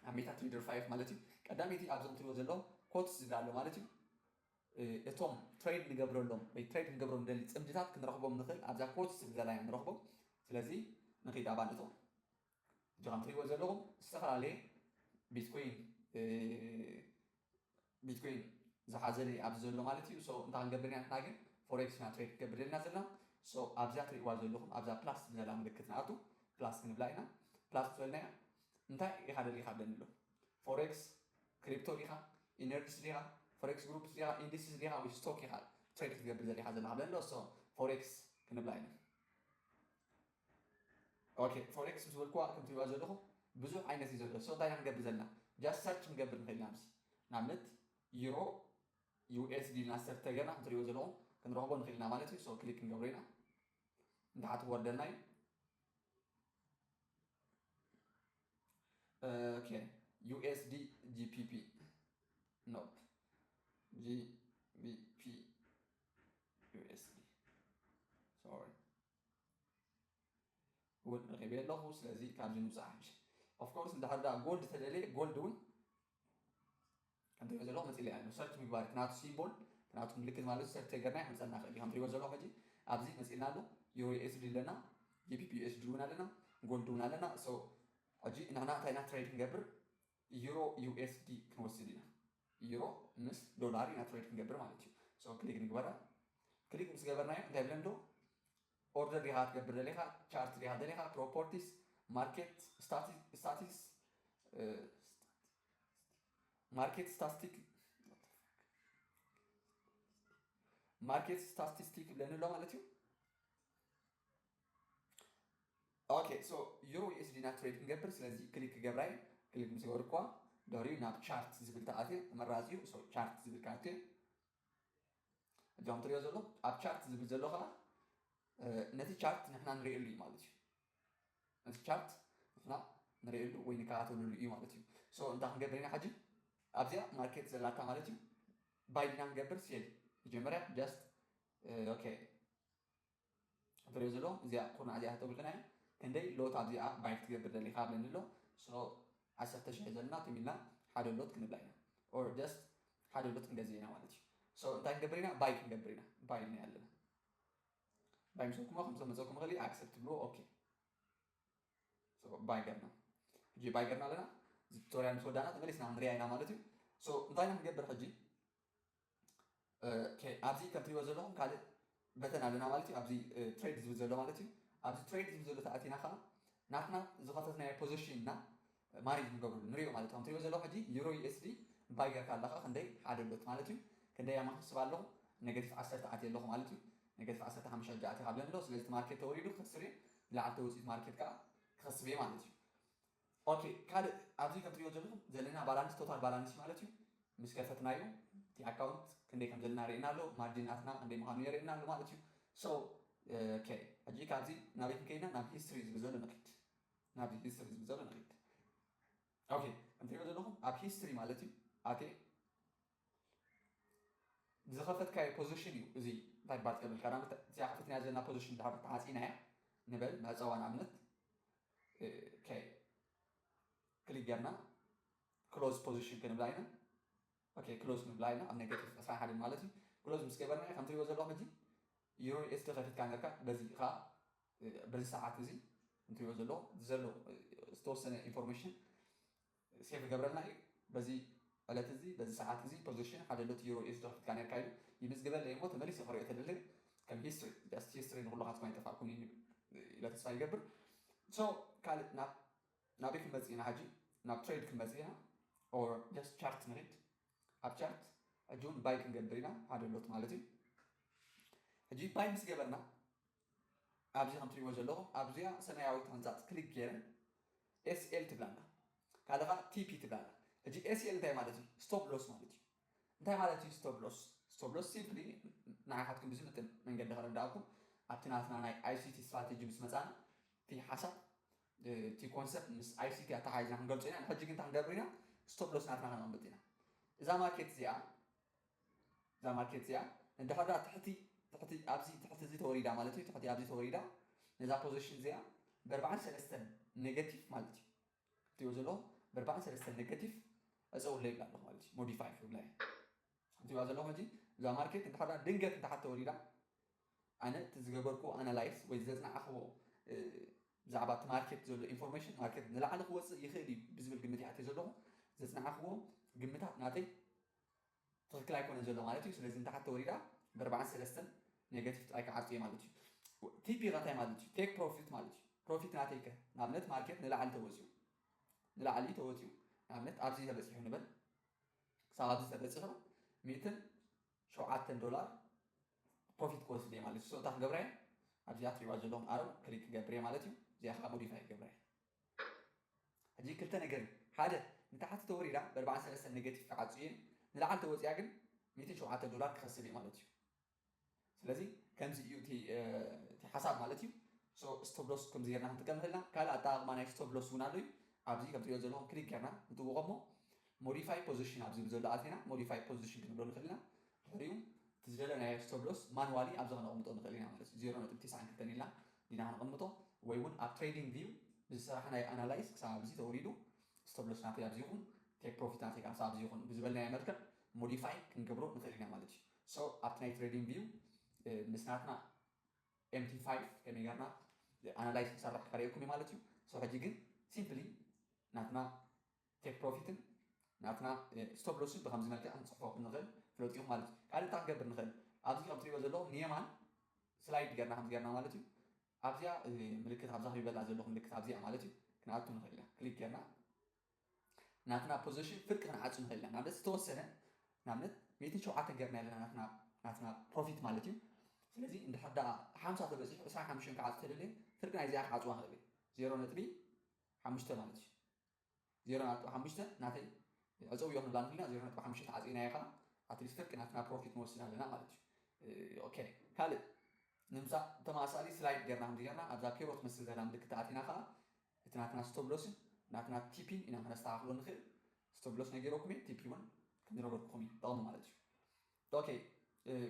ኣብ ሜታ ትሬደር 5 ማለት እዩ ቀዳመይቲ ኣብዞም ትሪእዎ ዘለኹም ኮትስ ዝብላ ኣሎ ማለት እዩ እቶም ትሬድ ንገብረሎም ወይ ትሬድ ክንገብሮም ንደሊ ጽምድታት ክንረኽቦም ንኽእል ኣብዛ ኮት ስብዘላ ኢና ንረኽቦም ስለዚ ንኺድ ኣባል እቶም እዚ ከም ትሪእዎ ዘለኹም ዝተፈላለየ ቢትኮይን ቢትኮይን ዝሓዘለ እዩ ኣብዚ ዘሎ ማለት እዩ ሶ እንታይ ክንገብር ኢና ንሕና ግን ፎሬክስ ኢና ትሬድ ክንገብር ደልና ዘለና ሶ ኣብዛ ትሪእዋ ዘለኹም ኣብዛ ፕላስ ዝብዘላ ምልክት ንኣቱ ፕላስ ክንብላ ኢና ፕላስ ትበልናያ እንታይ ኢኻ ደሊኻ ብለኒ ኣሎ ፎሬክስ ክሪፕቶ ዲኻ ኢነርጅስ ዲኻ ፎሬክስ ግሩፕስ ዲኻ ኢንዲስስ ዲኻ ወይ ስቶክ ኢኻ ትሬድ ክትገብር ዘሊኻ ዘለኻ ብለን ዶ ሶ ፎሬክስ ክንብላ ኢና ኦኬ ፎሬክስ ምስ በልኩዋ ከም ትሪእዋ ዘለኹም ብዙሕ ዓይነት እዩ ዘሎ ሶ እንታይ ኢና ክንገብር ዘለና ጃስ ሰርች ክንገብር ንኽእል ኢና ምስ ንኣብነት ዩሮ ዩኤስዲ ኢልና ሰርች ተገርና ከም ትሪእዎ ዘለኹም ክንረኽቦ ንኽእል ኢና ማለት እዩ ሶ ክሊክ ክንገብሮ ኢና እንተሓት ክወርደልና እዩ ኬን ዩኤስዲ ጂፒፒ ኖፕ ጂቢፒ ዩኤስዲ ሶሪ እውን ረኺበ ኣለኹ ስለዚ ካብዚ ምውፃእ ሓምሽ ኦፍኮርስ እንድሕር ዳ ጎልድ ተደልየ ጎልድ እውን ከም ትሪእዎ ዘለኹም መፂለያ ኣሎ ሰርች ምግባር እቲ ናቱ ሲምቦል ናቱ ምልክት ማለት ሰርች ተገርና የምፀልና ይኽእል እዩ ከም ትሪእዎ ዘለኹም ሕጂ ኣብዚ መፂልና ኣሎ ዩሮ ኤስዲ ኣለና ጂፒፒ ዩኤስዲ እውን ኣለና ጎልድ እውን ኣለና ሶ ሕጂ ንሕና እንታይ ኢና ትሬድ ክንገብር ዩሮ ዩኤስዲ ክንወስድ ኢና ዩሮ ምስ ዶላር ኢና ትሬድ ክንገብር ማለት እዩ ሶ ክሊክ ንግበራ ክሊክ ምስ ገበርናዮ እንታይ ብለን ኣሎ ኦርደር ዲኻ ክትገብር ደሊኻ፣ ቻርት ዲኻ ደሊኻ፣ ፕሮፖርቲስ፣ ማርኬት ስታቲስ፣ ማርኬት ስታስቲክ፣ ማርኬት ስታስቲስቲክ ይብለኒ ኣሎ ማለት እዩ። ኦኬ ሶ ዩሮ ዩኤስዲ ና ትሬድ ክንገብር ስለዚ ክሊክ ክገብራይ ክሊክ ምስ ገበርኳ ድሕሪኡ ናብ ቻርት ዝብል ተኣትየ ተመራፂ እዩ ሶ ቻርት ዝብል ክኣትየ እዚ ከም ትሪኦ ዘሎ ኣብ ቻርት ዝብል ዘሎ ከኣ ነቲ ቻርት ንሕና ንርእየሉ እዩ ማለት እዩ ነቲ ቻርት ንሕና ንርእየሉ ወይ ንከታተለሉ እዩ ማለት እዩ ሶ እንታይ ክንገብር ኢና ሕጂ ኣብዚኣ ማርኬት ዘላታ ማለት እዩ ባይ ዲና ንገብር ሴል መጀመርያ ጃስት ኦኬ ብረዝሎ እዚኣ ኩርናዕ እዚኣ ተተብሉና እያ ክንደይ ሎት ኣብዚኣ ባይ ክትገብር ደሊካ ኣብለኒ ኣሎ so ዓሰርተ ሽሕ ዘለና ትም ኢልና ሓደ ሎት ክንብላ ኢና or just ሓደ ሎት ክንገዝእ ኢና ማለት እዩ so እንታይ ክንገብር ኢና ባይ ክንገብር ኢና ባይ ኢልና ኣለና ባይ ምስ በልኩሞ ከም ዝመፀኩም ይኽእል እዩ ኣክሰፕት ትብልዎ ኦኬ so ባይ ገርና ሕጂ ባይ ገርና ኣለና እዚ ቱቶሪያል ምስ ወዳእና ተመሊስና ክንሪኣ ኢና ማለት እዩ so እንታይ ኢና ክንገብር ሕጂ ኣብዚ ከም ትሪእዎ ዘለኹም ካልእ በተን ኣለና ማለት እዩ ኣብዚ ትሬድ ዝብል ዘሎ ማለት እዩ ኣብዚ ትሬድ ዝብል ዘሎ ተኣቲና ከዓ ናትና ዝኸፈትናዮ ፖዚሽን እና ማኔጅ ንገብርሉ ንሪኦ ማለት ከም ትሪእዎ ዘለኹ ሕጂ ዩሮ ዩኤስዲ ባይ ጌርካ ኣለኻ ክንደይ ሓደ ሎት ማለት እዩ ክንደይ ኣማ ክስብ ኣለኹ ነገቲፍ ዓሰርተ ኣትየ ኣለኹ ማለት እዩ ነገቲፍ ዓሰርተ ሓሙሽተ ሕጂ ኣትኻ ብለን ኣለኹ ስለዚ እቲ ማርኬት ተወሪዱ ክኸስር እየ ብላዕሊ ተወፂኡ እቲ ማርኬት ከዓ ክኸስብ እየ ማለት እዩ ኦኬ ካልእ ኣብዚ ከም ትሪእዎ ዘለኹም ዘለና ባላንስ ቶታል ባላንስ ማለት እዩ ምስ ከፈትናዮ እቲ ኣካውንት ክንደይ ከም ዘለና የርእየና ኣሎ ማርጂን ናትና ክንደይ ምኻኑ የርእየና ኣሎ ማለት እዩ so ኦኬ ሕጂ ካብዚ ናበይ ክንከይድ ኢና ናብ ሂስትሪ ዝብል ዘሎ ንኺድ ናብዚ ሂስትሪ ዝብል ዘሎ ንኺድ ኦኬ ከም ትሪእዎ ዘለኹም ኣብ ሂስትሪ ማለት እዩ ኦኬ ዝኸፈትካዮ ፖዚሽን እዩ እዚ እንታይ ባጥ የብል ቀዳመት እዚኣ ከፊትናያ ዘለና ፖዚሽን ድሓር ተዓፂናያ ንበል መዕፀዋ ንኣብነት ኦኬ ክሊክ ጌርና ክሎዝ ፖዚሽን ክንብላ ኢና ኦኬ ክሎዝ ንብላ ኢና ኣብ ኔጌቲቭ ዕስራ ሓደ ማለት እዩ ክሎዝ ምስ ገበርናዮ ከም ትሪእዎ ዘለኹም ሕጂ ዩሮ ኤስዲ ከፊትካ ነርካ በዚ ከዓ በዚ ሰዓት እዚ እንትሪእዎ ዘሎ ዘሎ ዝተወሰነ ኢንፎርሜሽን ሴቭ እገብረልና እዩ በዚ ዕለት እዚ በዚ ሰዓት እዚ ፖዚሽን ሓደ ሎቲ ዩሮ ኢዩ ዝተከፍትካ ነርካ ኢሉ ይምዝግበለይ እሞ ተመሊሰ ክሪኦ ተደለየ ከም ሂስትሪ ጃስት ሂስትሪ ንኩሉካትኩም ኣይጠፋእኩምን ኢዩ ኢለ ተስፋ ይገብር so ካልእ ናብ ናበይ ክንመጽእ ኢና ሕጂ ናብ ትሬድ ክንመጽእ ኢና or just ቻርት ንኪድ ኣብ ቻርት ሕጂ ውን ባይ ክንገብር ኢና ሓደ ሎት ማለት ኢዩ ሕጂ ባይ ምስ ገበርና ኣብዚ ከም ትሪእዎ ዘለኹም ኣብዚኣ ሰማያዊት ሕንጻጽ ክሊክ ጌረ SL ትብል ኣላ ካልእ ከኣ TP ትብል ኣላ ሕጂ SL እንታይ ማለት እዩ ስቶብ ሎስ ማለት እዩ እንታይ ማለት እዩ ስቶብ ሎስ ስቶብ ሎስ ሲምፕሊ ንዓኻትኩም ብዝምጥን መንገዲ ከረዳኣኩም ኣብቲ ናትና ናይ ICT ስትራቴጂ ምስ መጻና እቲ ሓሳብ እቲ ኮንሰፕት ምስ ICT ኣተሓሒዝና ክንገልጾ ኢና ንሕጂ ግን እንታይ ክንገብር ኢና ስቶብ ሎስ ናትና ከነቕምጥ ኢና እዛ ማርኬት እዚኣ እዛ ማርኬት እዚኣ እንድሕር ደኣ ትሕቲ ትሕቲ ኣብዚ ትሕቲ እዚ ተወሪዳ ማለት እዩ ትሕቲ ኣብዚ ተወሪዳ ነዛ ፖዚሽን እዚኣ በርባዕን ሰለስተን ኔጋቲቭ ማለት እዩ ትሪኦ ዘሎ በርባዕን ሰለስተን ኔጋቲቭ ዕፀውለ ይብላ ኣለኹ ማለት እዩ ሞዲፋይ ክብላ እየ ትሪኦ ዘለኹም ሕጂ እዛ ማርኬት እንድሕር ደኣ ድንገት እንድሓት ተወሪዳ ኣነ እቲ ዝገበርኩዎ ኣናላይስ ወይ ዘፅናዕኽዎ ብዛዕባ እቲ ማርኬት ዘሎ ኢንፎርሜሽን ማርኬት ንላዕሊ ክወፅእ ይኽእል እዩ ብዝብል ግምት ይኣትየ ዘለኹ ዘፅናዕኽዎ ግምታት ናተይ ትክክል ኣይኮነን ዘሎ ማለት እዩ ስለዚ ንታሓት ተወሪዳ ብ ኣርባዓን ሰለስተን ነገቲቭ ጥራይ ክዓርጹ እየ ማለት እዩ ቲፒ ከ እንታይ ማለት እዩ ቴክ ፕሮፊት ማለት እዩ ፕሮፊት ናተይ ከ ንኣብነት ማርኬት ንላዕሊ ተወጺኡ ንላዕሊ ተወጺኡ ንኣብነት ኣብዚ ተበጺሑ ንበል ክሳብ ኣብዚ ተበጺሑ ሚእትን ሸውዓተን ዶላር ፕሮፊት ክወስድ እየ ማለት እዩ ሶ እንታይ ክገብራ እየ ኣብዚኣ ትሪእዋ ዘለኹም ኣረው ክሊክ ክገብር እየ ማለት እዩ እዚኣ ከዓ ሞዲፋይ ክገብራ እየ ሕጂ ክልተ ነገር እዩ ሓደ ንታሕቲ ተወሪዳ ብኣርባዓን ሰለስተን ነገቲቭ ክዓጹ እዬም ንላዕሊ ተወጺኣ ግን ሚእትን ሸውዓተ ዶላር ክከስብ እየ ማለት እዩ ስለዚ ከምዚ እዩ እቲ እቲ ሓሳብ ማለት እዩ ሶ ስቶፕ ሎስ ከምዚ ጌርና ክንጥቀም ንኽእል ኢና ካልእ ኣጠቓቕማ ናይ ስቶፕ ሎስ እውን ኣሎ እዩ ኣብዚ ከም ትሪኦ ዘለኹም ክሊክ ጌርና ንጥውቖ እሞ ሞዲፋይ ፖዚሽን ኣብ ዝብል ዘሎ ኣቲና ሞዲፋይ ፖዚሽን ክንብሎ ንኽእል ኢና ድሕሪኡ እቲ ዝደለናዮ ስቶፕ ሎስ ማንዋሊ ኣብዚ ከነቕምጦ ንኽእል ኢና ማለት እዩ ዜሮ ነጥቢ ቴስዓን ክልተን ኢልና ኢና ክነቐምጦ ወይ ውን ኣብ ትሬዲንግ ቪው ብዝሰራሕናዮ ኣናላይዝ ክሳብ ኣብዚ ተወሪዱ ስቶፕ ሎስ ናተይ ኣብዚ ይኹን ቴክ ፕሮፊት ናተይ ክኣ ክሳብ ኣብዚ ይኹን ብዝበልናዮ መልክዕ ሞዲፋይ ክንገብሮ ንኽእል ኢና ማለት እዩ ሶ ኣብቲ ናይ ትሬዲንግ ቪው ምስ ናትና ኤምቲ ፋይፍ ከመይ ጌርና ኣናላይዝ ክንሰርሕ ከርእየኩም እዩ ማለት እዩ ሶ ሕጂ ግን ሲምፕሊ ናትና ቴክ ፕሮፊትን ናትና ስቶፕ ሎስን ብከምዚ መልክዕ ክንጽሕፎ ከምንክእል ፍለጡ ኢኩም ማለት እዩ። ካልእ እንታይ ክንገብር ንክእል ኣብዚ ከም ትርእይዎ ዘለኩም ንየማን ስላይድ ገርና ከምዚ ገርና ማለት እዩ ኣብዚኣ ምልክት ኣብዛ ክቢበላ ዘለኩ ምልክት ኣብዚኣ ማለት እዩ ክንኣቱ ንክእል ኢና ክሊክ ገርና ናትና ፖዚሽን ፍርቂ ክንዓጹ ንክእል ኢና ንኣብነት ዝተወሰነ ንኣብነት ሚእትን ሸውዓተን ገርና ኣለና ናትና ናትና ፕሮፊት ማለት እዩ ስለዚ እንድሕር ደኣ ሓምሳ ተበጺሑ ዕስራን ሓሙሽተን ክዓጹ ተደልየ ፍርቂ ናይዚኣ ክዓጽዋ ንክእል እየ ዜሮ ነጥቢ ሓሙሽተ ማለት እዩ ዜሮ ነጥቢ ሓሙሽተ ናተይ ዕጽው እዮም ንብላ እንተልና ዜሮ ነጥቢ ሓሙሽተ ተዓጺናዮ ከኣ ኣትሊስት ከርቂ ናትና ፕሮፊት ንወስድ ኣለና ማለት እዩ ኦኬ ካልእ ንምሳ ተመሳሳሊ ስላይድ ጌርና ከምዚ ጌርና ኣብዛ ፔሮ ትመስል ዘላ ምልክት ኣቲና ከኣ እቲ ናትና ስቶብሎስን ናትና ቲፒን ኢና ከነስተኻኽሎ ንኽእል ስቶብሎስ ነጊረኩም እየ ቲፒ እውን ከምዝነገርኩኹም እዩ ጠቕሚ ማለት እዩ Ok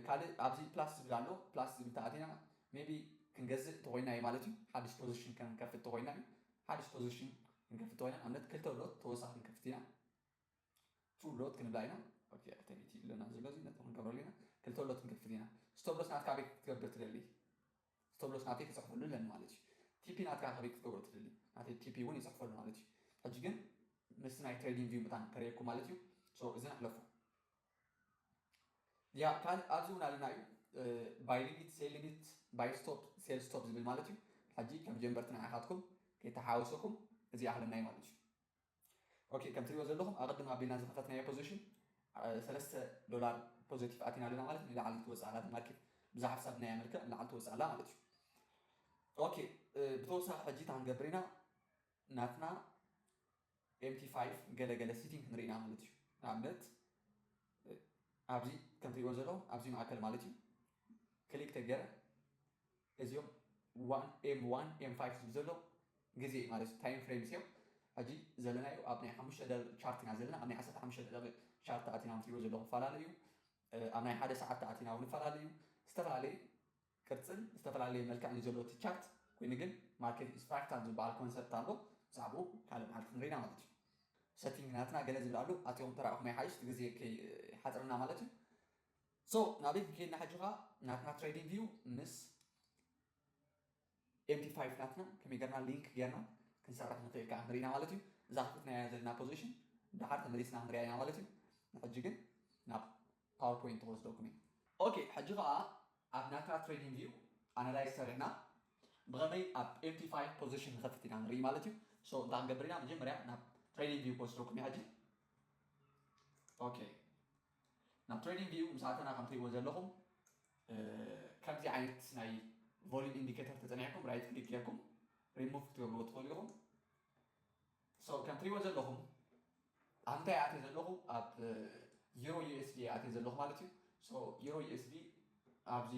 ካልእ ኣብዚ plus ዝብል ኣሎ plus ዝብል ተኣቲና maybe ክንገዝእ እንተኾይና እዩ ማለት እዩ ሓድሽ position ክንከፍት እንተኾይና እዩ ሓድሽ position ክንከፍት እንተኾይና ንኣብነት ክልተ ሎት ተወሳኺ ክንከፍት ኢና two ሎት ክንብላ ኢና ኦኬ ክልተ ሚእቲ ይብለና ዘሎ እዚ ነጥቢ ክንገብረሉ ኢና ክልተ ሎት ክንከፍት ኢና ስቶፕ ሎስ ናትካ ኣበይ ክትገብር ትደሊ ስቶፕ ሎስ ናተይ ክጽሕፈሉ ኣለኒ ማለት እዩ ቲፒ ናትካ ከበይ ክትገብሮ ትደሊ ናተይ ቲፒ እውን ይጽሕፈሉ ማለት እዩ ሕጂ ግን ምስ ናይ ትሬዲንግ ቪው ምታን ከርእየኩም ማለት እዩ ሶ እዝን ኣሕለፎ ያ ካልእ ኣብዚ እውን ኣለና እዩ ባይ ሊሚት ሴል ሊሚት ባይ ስቶፕ ሴል ስቶፕ ዝብል ማለት እዩ ሕጂ ከም ጀንበርቲ ንዓኻትኩም ከይተሓወሰኩም እዚ ኣለና እዩ ማለት እዩ ኦኬ ከም ትሪኦ ዘለኹም ኣቐድም ኣቢልና ዝኸፈትናዮ ፖዚሽን ሰለስተ ዶላር ፖዘቲቭ ኣቲና ኣለና ማለት ንላዕሊ ትወፅእ ኣላ ማርኬት ብዛ ሓሳብ ናይ ኣመልክዕ ንላዕሊ ትወፅእ ኣላ ማለት እዩ ኦኬ ብተወሳኺ ሕጂ እታ ክንገብር ኢና ናትና ኤምፒ ፋይቭ ገለ ገለ ሲቲንግ ክንርኢ ኢና ማለት እዩ ንኣብነት ኣብዚ ከም ትሪእዎ ዘለኹም ኣብዚ ማእከል ማለት እዩ ክሊክ ተገረ እዚኦም ዋን ኤም ዋን ኤም ፋይቭ ዝብል ዘሎ ግዜ እዩ ማለት እዩ ታይም ፍሬምስ እዮም ሕጂ ዘለናዮ ኣብ ናይ ሓሙሽተ ደቂቕ ቻርት ኢና ዘለና ኣብ ናይ ዓሰርተ ሓሙሽተ ደቂቕ ቻርት ኣቲና ትሪእዎ ዘለኹም ፈላለዩ ኣብ ናይ ሓደ ሰዓት ተኣቲና እውን ፈላለዩ ዝተፈላለዩ ቅርጽን ዝተፈላለየ መልክዕን እዩ ዘሎ እቲ ቻርት፣ ኮይኑ ግን ማርኬት ኢዝ ፍራክታል ዝበሃል ኮንሰፕት ኣሎ ብዛዕብኡ ካልእ መዓልቲ ክንሪኢና ማለት እዩ። ሰቲንግ ናትና ገለ ዝብል ኣሎ ኣቲኹም ተራኢኹም ይሓይሽ እቲ ግዜ ከይሓጽረና ማለት እዩ። ሶ ናበይ ክንከይድና ሕጂ ከኣ ናትና ትሬዲንግ ቪው ምስ ኤምዲ ፋይፍ ናትና ከመይ ገርና ሊንክ ገርና ክንሰርሕ ንኽእል ከኣ ንሪኢና ማለት እዩ። እዛ ከፊትናያ ዘለና ፖዚሽን ደሓር ተመሊስና ክንሪኣ ኢና ማለት እዩ። ንሕጂ ግን ናብ ፓወር ፖይንት ክወስደኩም እየ። ኦኬ ሕጂ ከኣ ኣብ ናትና ትሬዲንግ ቪው ኣናላይዝ ሰሪሕና ብከመይ ኣብ ኤምቲ ፋይቭ ፖዘሽን ንከፍት ኢና ንርኢ ማለት እዩ። ሶ እንታይ ክንገብር ኢና መጀመርያ ናብ ትሬዲንግ ቪው ክወስደኩም እየ ሕጂ ኦኬ ናብ ትሬዲንግ ቪው ምስ ኣተና ከም ትሪእዎ ዘለኹም ከምዚ ዓይነት ናይ ቮሊዩም ኢንዲኬተር ተጸኒዕኩም ራይት ክሊክ ጌርኩም ሪሙቭ ክትገብርዎ ትኽእሉ ኢኹም። So ከም ትሪእዎ ዘለኹም ኣብ እንታይ ኣትየ ዘለኹ ኣብ ዩሮ ዩኤስዲ እየ ኣትየ ዘለኹ ማለት እዩ። So ዩሮ ዩኤስዲ ኣብዚ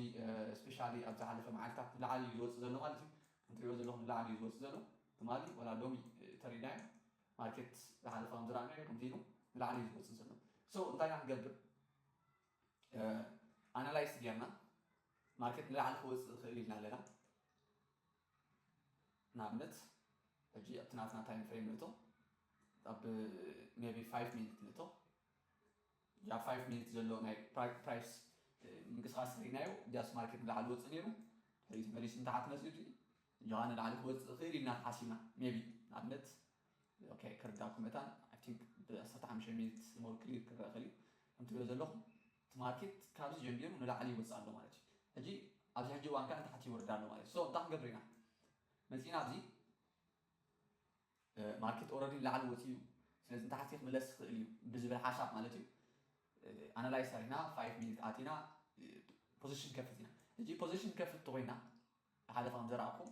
ስፔሻሊ ኣብ ዝሓለፈ መዓልታት ንላዕሊ እዩ ዝወፅእ ዘሎ ማለት እዩ። ከም ትሪእዎ ዘለኹም ንላዕሊ እዩ ዝወፅእ ዘሎ ትማሊ ወላ ሎሚ ተሪድናዮ ማርኬት ዝሓለፈ ከም ዝረኣናዮ ከምዚ ኢሉ ንላዕሊ እዩ ዝወፅእ ዘሎ። So እንታይ ኢና ክንገብር ኣናላይስ ጌርና ማርኬት ንላዕሊ ክወፅእ ይኽእል ኢልና ኣለና። ንኣብነት ሕጂ ኣብቲ ናትና ታይም ፍሬም ንእቶ ኣብ ሜቢ ፋይቭ ሚኒት ንእቶ እዛ ፋይቭ ሚኒት ዘሎ ናይ ፕራይስ ምንቅስቃስ ርኢናዮ ጃስ ማርኬት ንላዕሊ ወፅእ ነይሩ ድሕሪ ተመሊሱ ንታሕቲ መፅኡ ድዩ እጃኻ ንላዕሊ ክወፅእ ክእል ኢልና ተሓሲብና ሜቢ ንኣብነት ኦኬ ክርዳእኩም መታን ኣይ ቲንክ ብኣስርተ ሓምሽተ ሚኒት ሞር ክሊር ክረአ ክእል እዩ ከምትሪኦ ዘለኹም እቲ ማርኬት ካብዚ ጀሚሩ ንላዕሊ ይወጽእ ኣሎ ማለት እዩ ሕጂ ኣብዚ ሕጂ እዋን ከኣ ንታሕቲ ይወርድ ኣሎ ማለት እዩ so እንታይ ክንገብር ኢና መጺእና ኣብዚ ማርኬት ኦረዲ ንላዕሊ ወጺኡ እዩ ስለዚ ንታሕቲ ክምለስ ይኽእል እዩ ብዝብል ሓሳብ ማለት እዩ ኣናላይዝ ኣሪና 5 ሚኒት ኣቲና ፖዚሽን ከፍት ኢና ሕጂ ፖዚሽን ከፍት ተኮይና ሓደ ከም ዘረኣኩም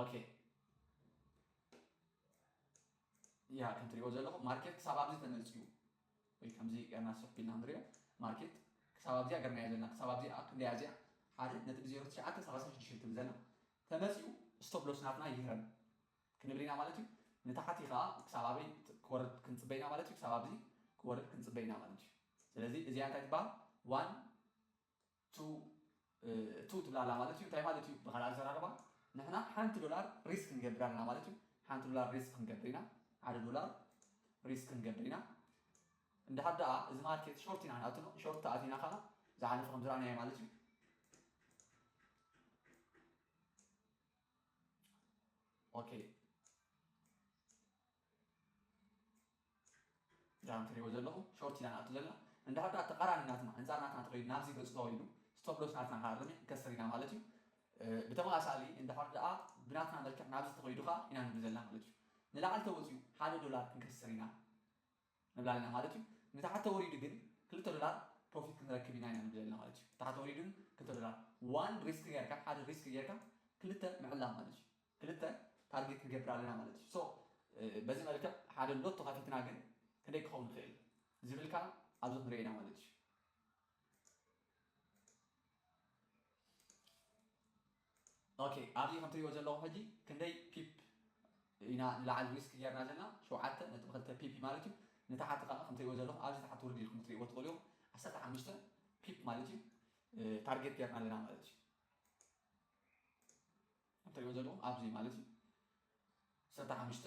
ኦኬ ያ ከም ትሪኦ ዘለኹም ማርኬት ክሳብ ኣብዚ ተመልፅዩ ወይ ከምዚ ገርና ስፍ ኢልና ንሪኦ ማርኬት ክሳብ ኣብዚኣ ገርናዮ ዘለና ክሳብ ኣብዚኣ ክንደያ እዚኣ ሓደ ነጥቢ ዜሮ ትሽዓተ ሰላሳ ሽዱሽተ ትብል ዘላ ተመፅኡ ስቶፕ ሎስ ናትና ይህረም ክንብል ኢና ማለት እዩ ንታሕቲ ከዓ ክሳብ ኣበይ ክወርድ ክንፅበይና ማለት እዩ ክሳብ ኣብዚ ክወርድ ክንፅበይና ማለት እዩ ስለዚ እዚኣ እንታይ ትበሃል ዋን ቱ ትብል ኣላ ማለት እዩ እንታይ ማለት እዩ ብካልእ ኣዘራርባ ንሕና ሓንቲ ዶላር ሪስክ ክንገብር ኣለና ማለት እዩ ሓንቲ ዶላር ሪስክ ክንገብር ኢና ሓደ ዶላር ሪስክ ክንገብር ኢና እንድሓር ደኣ እዚ ማርኬት ሾርት ኢና ንኣትኖ ሾርት ተኣቲና ከዓ ዝሓለፈ ከም ዝረኣናዮ ማለት እዩ ኦኬ ዳም ትሪእዎ ዘለኹም ሾርት ኢና ንኣቱ ዘለና እንድሕር ዳኣ ተቃራኒ ናትና ኣንጻር ናትና እንተኸይዱ ናብዚ ገጹ ተወይዱ ስቶፕሎስ ናትና ክሃርም ክንከስር ኢና ማለት እዩ ብተመሳሳሊ እንድሕር ዳኣ ብናትና መልክዕ ናብዚ ተኸይዱ ከኣ ኢና ንብል ዘለና ማለት እዩ ንላዕሊ ተወጺኡ ሓደ ዶላር ክንከስር ኢና ምብላልና ማለት እዩ ንታሕቲ ተወሪዱ ግን ክልተ ዶላር ፕሮፊት ክንረክብ ኢና ኢና ንብለልና ማለት እዩ ታሕቲ ተወሪዱ ግን ክልተ ዶላር ዋን ሪስክ ጌርካ ሓደ ሪስክ ጌርካ ክልተ ምዕላም ማለት እዩ ክልተ ታርጌት ንገብር ኣለና ማለት እዩ ሶ በዚ መልክዕ ሓደ ሎቶ ከፊትና ግን ክንደይ ክኸውን ይኽእል ዝብል ከዓ ኣብዚ ክንሪኦ ኢና ማለት እዩ ኦኬ ኣብዚ ከም ትሪእዎ ዘለኹም ሕጂ ክንደይ ፒፕ ኢና ንላዕሊ ሪስክ ጌርና ዘለና ሸውዓተ ነጥቢ ክልተ ፒፒ ማለት እዩ ንታሓቲ ካኣ ከም ትሪእዎ ዘለኹም ኣብዚ ታሓቲ ውርድ ኢልኩም ክትሪእዎ ትኽእሉ ኢኹም ዓሰርተ ሓሙሽተ ፒፕ ማለት እዩ ታርጌት ጌርና ኣለና ማለት እዩ ከምትሪእዎ ዘለኹም ኣብዚ ማለት እዩ ዓሰርተ ሓሙሽተ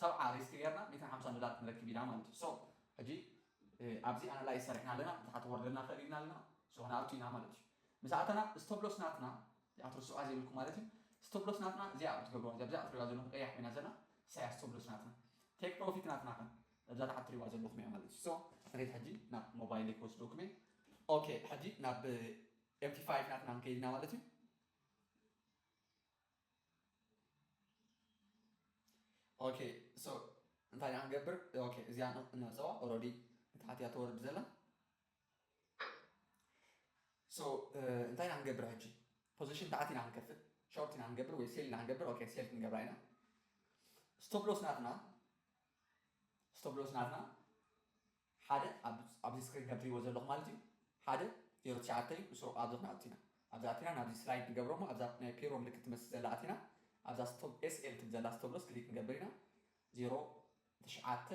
ሰብዓ ሪስክ ገርና ሚእትን ሓምሳን ዶላር ክንረክብ ኢና ማለት እዩ so ሕጂ ኣብዚ ኣናላይዝ ሰሪሕና ኣለና ንታሕቲ ክወርደልና ይክእል ኢልና ኣለና so ክንኣቱ ኢና ማለት እዩ ምስ ኣተና stop loss ናትና ኣትርስዑዋ ዘይብልኩም ማለት እዩ stop loss ናትና እዚኣ ኣብ ትገብርዋ እዚኣ ኣብዛ ትሪእዋ ዘለኩም ቀያሕ ኮይና ዘላ ሳያ stop loss ናትና take profit ናትና ከ እዛ ታሓት ትሪእዋ ዘለኩም እያ ማለት እዩ so ሪድ ሕጂ ናብ ሞባይል ክወስደኩም እየ ኦኬ ሕጂ ናብ MT5 ናትና ከይድና ማለት እዩ ኦኬ ሶ እንታይ ኢና ክንገብር ኦኬ እዚኣ ነዕፀዋ ኦረዲ ንታሕቲ እያ ተወርድ ዘላ ሶ እንታይ ኢና ክንገብር ሕጂ ፖዚሽን ታሕቲ ኢና ክንከፍት ሾርት ኢና ክንገብር ወይ ሴል ኢና ክንገብር ኦኬ ሴል ክንገብራ ኢና ስቶፕሎስ ናትና ስቶፕሎስ ናትና ሓደ ኣብዚ ስክሪን ከም ትሪእዎ ዘለኹም ማለት እዩ ሓደ ዜሮ ትሽዓተ እዩ ንሱ ኣብዚ ክንኣ ኣቲና ኣብዚ ኣቲና ናብዚ ስላይድ ንገብሮ እሞ ኣብዛ ናይ ፔሮ ምልክት ትመስል ዘላ ኣቲና ኣብዛ ስቶብ ኤስኤል ትብል ዘላ ስተብሎስ ክሊክ ንገብር ኢና ዜሮ ትሽዓተ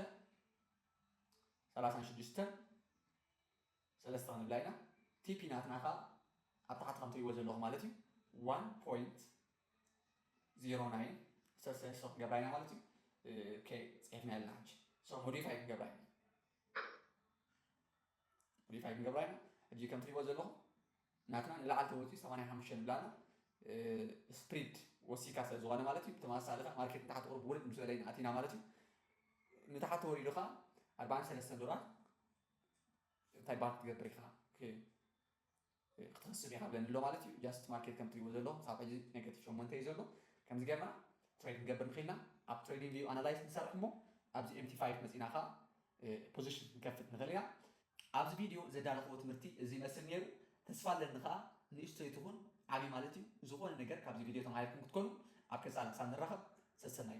ሰላሳን ሽዱሽተን ሰለስተ ክንብላ ኢና ቲፒ ናትና ከዓ ኣብ ታሕቲ ከም ትሪእዎ ዘለኹም ማለት እዩ ዋን ፖይንት ዜሮ ናይን ሰለስተ ሰው ክገብራ ኢና ማለት እዩ ኦኬ ጽሒፍና ኣለና ሕጂ ሰው ሞዲፋይ ክንገብራ ኢና ሞዲፋይ ክንገብራ ኢና ሕጂ ከም ትሪእዎ ዘለኹም ናትና ንላዕሊ ተወፂኡ ሰማንያ ሓሙሽተ ንብላ ኣላ ስፕሪድ ወሲካ ስለ ዝኾነ ማለት እዩ ብተመሳሳሊ ከዓ ማርኬት ንታሕቲ ቁሩብ ውርድ ምስ በለ ኢና ኣቲና ማለት እዩ ንታሕቲ ወሪዱ ከዓ ኣርባዓን ሰለስተን ዶላር እንታይ ባር ክትገብር ኢኻ ክትክስብ የሃብለኒ ኣሎ ማለት እዩ ጃስት ማርኬት ከም ትሪእዎ ዘለኹም ክሳብ ሕጂ ኔጋቲቭ ሸሞንተ እዩ ዘሎ ከምዚ ጌርና ትሬድ ክንገብር ንኺእልና ኣብ ትሬዲንግ ቪው ኣናላይዝ ንሰርሕ እሞ ኣብዚ ኤምቲ ፋይፍ መጺእና ከኣ ፖዚሽን ክንከፍት ንኽእል ኢና። ኣብዚ ቪድዮ ዘዳለኽዎ ትምህርቲ እዚ ይመስል ኔሩ ተስፋ ኣለኒ ከኣ ንእሽቶይ ትኹን ዓቢ ማለት እዩ ዝኾነ ነገር ካብዚ ቪድዮ ተማሂርኩም ክትኮኑ ኣብ ቀጻሊ ክሳብ ንራኸብ ሰሰናዩ።